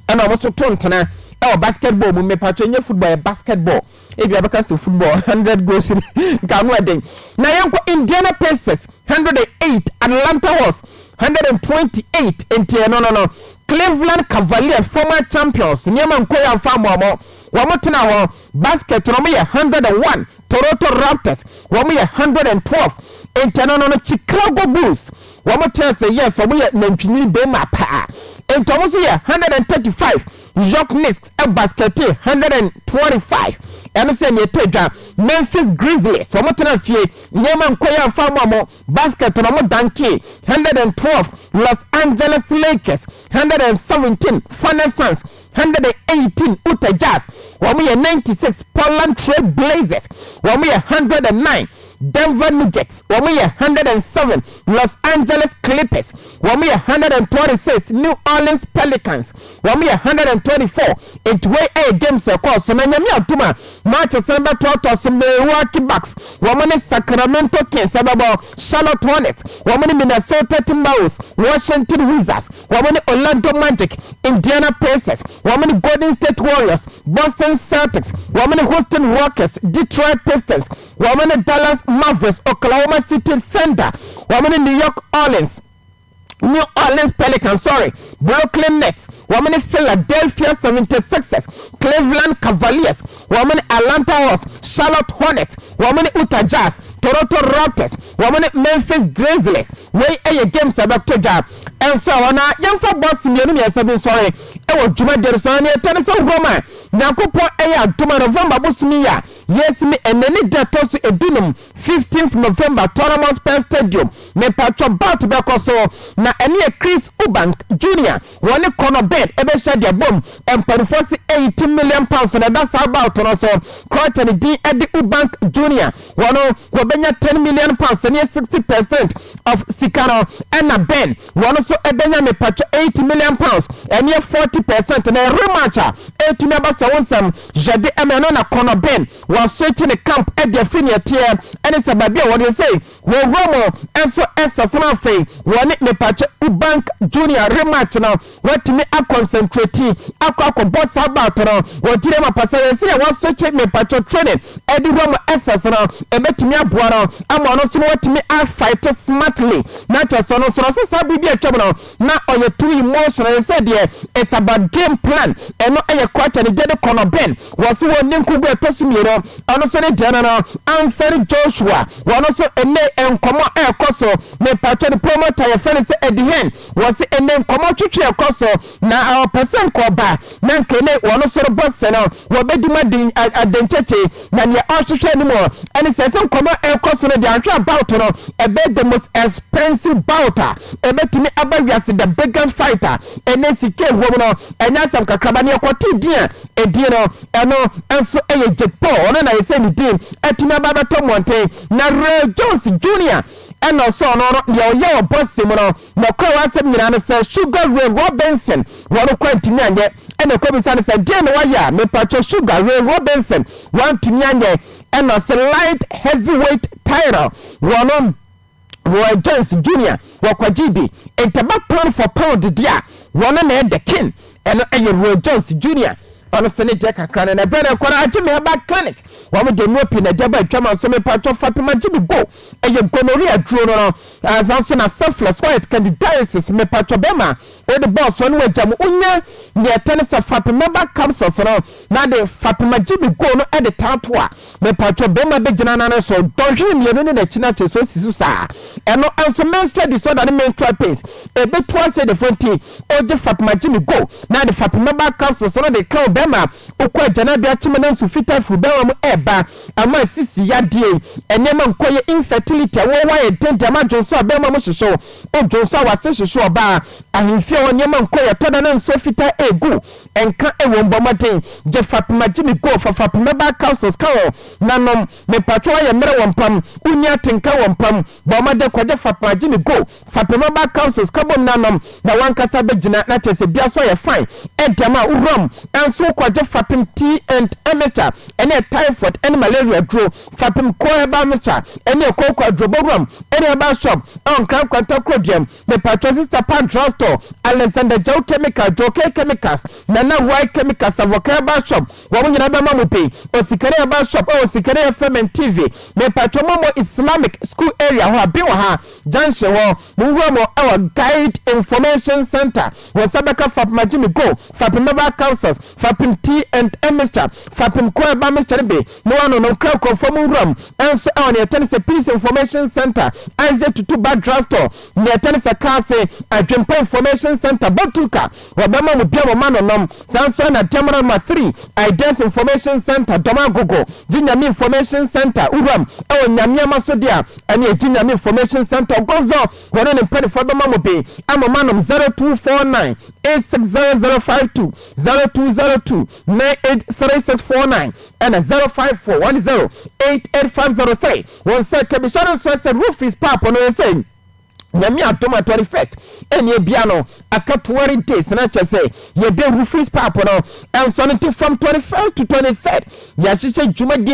ɛna ɔmo so to ntena ɛwɔ basket bɔɔl mu mepatwɛ ɛnyɛ football ɛyɛ basket bɔɔl ebi abɛka sɛ football hundred goals nka ano ɛden na yɛn kɔ Indiana Pacers hundred and eight Atlanta Hawks hundred and twenty eight nti ɛno no no Cleveland Cavaliers former champions nneɛma nkɔ yɛ nfa mo ɔmo wɔn tena hɔ basket na wɔn yɛ hundred and one Toronto Raptors wɔn yɛ hundred and twelve nti ɛno no no Chicago Bulls. Wɔn kyerɛ sɛ yes wɔn yɛ nantwinini bɛɛma paa enti wɔn nso yɛ hundred and thirty five York Knicks baskɛte hundred and twenty five ɛno nso yɛ nea ɛtɔ dwa Memphis Grizzlies wɔn tena fie nneɛma nkɔ yɛ anfa ama wɔn baskɛte na wɔn dankee hundred and twelve Los Angeles Lakers hundred and seventeen Phoenix Suns hundred and eighteen Utah Jazz, wɔn yɛ ninety six Portland Trail Blazers, wɔn yɛ hundred and nine Denver Nuggets, wɔn yɛ hundred and seven Los Angeles Clippers, wɔn yɛ hundred and twenty six New Orleans Pelicans, wɔn yɛ hundred and twenty four. Enti wei yɛ games a ɛkɔɔ so, na Nyame adom a, Matches no bɛtoatoa so, Milwaukee Bucks wɔn ne Sacramento Kings bɛbɔ, Charlotte Hornets wɔn ne Minnesota Timberwolves, Washington Wizards wɔn ne Orlando Magic, Indiana Pacers wɔn ne Golden State Warriors, Boston Celtics wɔn ne Houston Rockets, Detroit Pistons wɔn ne Dallas Mavericks, Oklahoma City Thunder wɔn ne New York Orleans. New Orleans Pelicans, sɔre, Brooklyn Nets, wɔn ne Philadelphia 76ers, Cleveland Cavaliers, wɔn ne Atlanta Hawks, Charlotte Hornets, wɔn ne Utah Jazz, Toronto Raptors, wɔn ne Memphis Grizzlies. Wei yɛ games a ɛbɛto dwa nso a wɔn a yɛmfa bɔs mmienu mmiɛnsa bi nsɔre wɔ dwumadie no so na yɛtɛ no sɛ hurɔm a Nyankopɔn ɛyɛ adom a November bosom yi a yɛsimi ɛnɛ ne da ɛtɔ so edunum Fifteenth November Tottenham Hotspur Stadium mepaatwɔ bout bɛkɔ so na ɛno yɛ Chris Eubank Junior wɔne Conor Benn ɛbɛhyia de abom mpaninfoɔ se eighty million pounds na ɛda saa bout no so Croatia ne din de Eubank Junior wɔn wɔbɛnya ten million pounds ɛno yɛ sixty percent of sika no ɛna Benn wɔn nso ɛbɛnya mepaatwɔ eighty million pounds ɛno yɛ forty percent na rematch a ɛtumi aba so ɛho nsɛm yɛde ɛma ɛno na Conor Benn Wɔasan kyi ne camp de afiri nea ɛteɛ ɛne sɛ baabi a wɔde sɛe wɔn wura mu nso ɛsɛsɛm afei wɔne Mepakyɛ u bank junior rematch no wɔatumi akɔnsɛntreti akɔ akɔbɔ saa bout no wɔ gyina ma pa sɛdeɛ sɛdeɛ wɔaso kyi Mepakyɛ training ɛde wura mu ɛsɛs no ɛbɛtumi aboa no ama ɔno nso no watumi afight smartly na kyɛ sɛ ɔno nso no sɛ saa bere bi atwam no Na ɔyɛ too emotionally sɛ deɛ it's about game plan ɛno ɛyɛ kwacha ne gyade kɔ no Ben wɔ so wɔn ninkugu ɛtɔ so mmienu ɔno nso ne deɛ no no Anthony Joshua wɔn nso ɛnɛ nkɔmɔ a ɛkɔ so mepakyɛ ne promoter yɛfrɛ no sɛ Eddie Hearn wɔ se ɛnɛ nkɔmɔ twetwe ɛkɔ so na ɔpɛ sɛ nka ɔba Na nkene wɔn soro bɔnsɛ no, wɔbedi mu aden adenkyekye. Na nea ɔrehwehwɛ no mu ɛne sɛ, sɛ nkɔmmɔ ɛrekɔ so no deɛ anhwɛ a bout no ɛbɛyɛ the most expensive bout a ɛbɛtumi aba wiase, the biggest fight a ɛnɛ sika ɛwɔ mu no ɛnyɛ asɛm kakraba. Nea ɔkɔtee din a ɛdin no ɛno nso ɛyɛ Jake Paul, ɔno na ayɛ sɛ ne din atumi aba abɛtɔ mmɔnten. Na Roy Jones Junior ɛna ɔsɔɔ no, ɔno deɛ ɔyɛ wɔ bɔnsɛ mu no. Nɔkorɛ w'asɛm nyinaa ne sɛ sugar rain Robinson wɔno koraa ntumi anyɛ ɛna ɛkɔbisa no sɛ deɛn na wayɛ a mepakyɛ sugar rain Robinson wantumi anyɛ ɛna ɔse light heavy weight title wɔno Roy Jones Junior wɔkɔgyee bi ntɛba pound for pound deɛ a wɔno na ɛdɛ king ɛno ɛyɛ Roy Jones Junior ɔno se ne deɛ kakra no na ɛbɛn na ɛkɔ no agye me herbal clinic wɔn deɛ nuo pii na ɛde aba atwam nso mepakyɛ fapem agye me go ɛyɛ gonorrhea duro no no ansa nso na syphilis white candidiasis mepatwɔ bɛma wode bɔɔ soɔ no wagya mu wonya nea ɛtɛ ne sɛ fapima ba capsules no na de fapima gyibi goo no de taa to a mepatwɔ bɛma bɛgyina nane so dɔnhwere mmienu ne nakyi no akyɛ so asi so saa ɛno nso menstrual disorder ne menstrual pains ɛbɛtu ase defoɔ nti ogye fapima gyibi go na de fapima ba capsules no de ka wo bɛma wokɔ agyanadua kyeme na nsu fita firi bɛma mu ɛba ama asisi yadeɛ, nneɛma nkɔyɛ, infertility, awoɔ ayɛ den dɛm adwonsɔ a bɛɛma mo hyehye wo, wo dwonsɔ a w'ase hyehye ɔbaa, ahemfie hɔ nneɛma nkɔyɛ, ɛtɔda na nsuo fitaa ɛɛgu, ɛnka ɛwom bɔ mmɔden gye fapima gye me go fa fapima baa capsules ka ho na nom, mepatwɔ ayɛ mmerɛ wɔ mpam, wonni atenka wɔ mpam, bɔ mmɔden kɔgye fapima gye me go. Fapem ɔbaa councils ka bom na nom na wankasa bɛ gyina na kyerɛ sɛ bia so ayɛ fine ɛdɛm a wo wura mu nso wo kɔ gye fapem tea and mixture ɛneɛ typhoid ɛne malaria aduro fapem cold herbal mixture ɛneɛ koko aduro bɔ wura mu ɛne herbal shop ɛwɔ nkran nkwanta korodua mu mepakyɛw sister pa drug store alexander jaw chemical jokey chemicals nana wai chemical savoka herbal shop wɔn nyinaa bɛma mo bi osikani herbal shop ɛwɔ osikani fm and tv mepakyɛw momo islamic school area hɔ a bi wɔ ha Junction hɔ, monwura mu wɔ Guide Information Centre, wɔn nsa bɛka Fapem Agyimi Gold, Fapem Mobile Councils, Fapem Tea and Tea Mixture, Fapem Koeba Mixture bi na wɔanonom. Kra nkurɔfoɔ monwura mu nso wɔ nea ɛkyɛ ne sɛ Peace Information Centre, Isaac Tutu Bag Drugstore, nea ɛkyɛ ne sɛ Kaase, Adwempa Information Centre, Botuka, Wɔbɛma mo bia mo ma no nom. Saa nso na Damara ma firi Ideas Information Centre dɔm agogo, Gye Nyame Information Centre, Uram, ɛwɔ Nyameama so dea, ɛne Agye Nyame Information Centre, Ogozo, wɔne ne mpanifoɔ bɛma mo be a mo ma nom 0249 860052, 0202 983649, ɛna 0541 0885003. Wɔn sɛ, Kabisha no nso ɛsɛ Rufis Papo no yɛ sɛ. Nyame adom a thirty first ɛneɛ bia no aka twenty days na kyɛ sɛ yɛde roofings pipe no ɛnsɔne to fam twenty first to twenty third yɛahyehyɛ dwumadie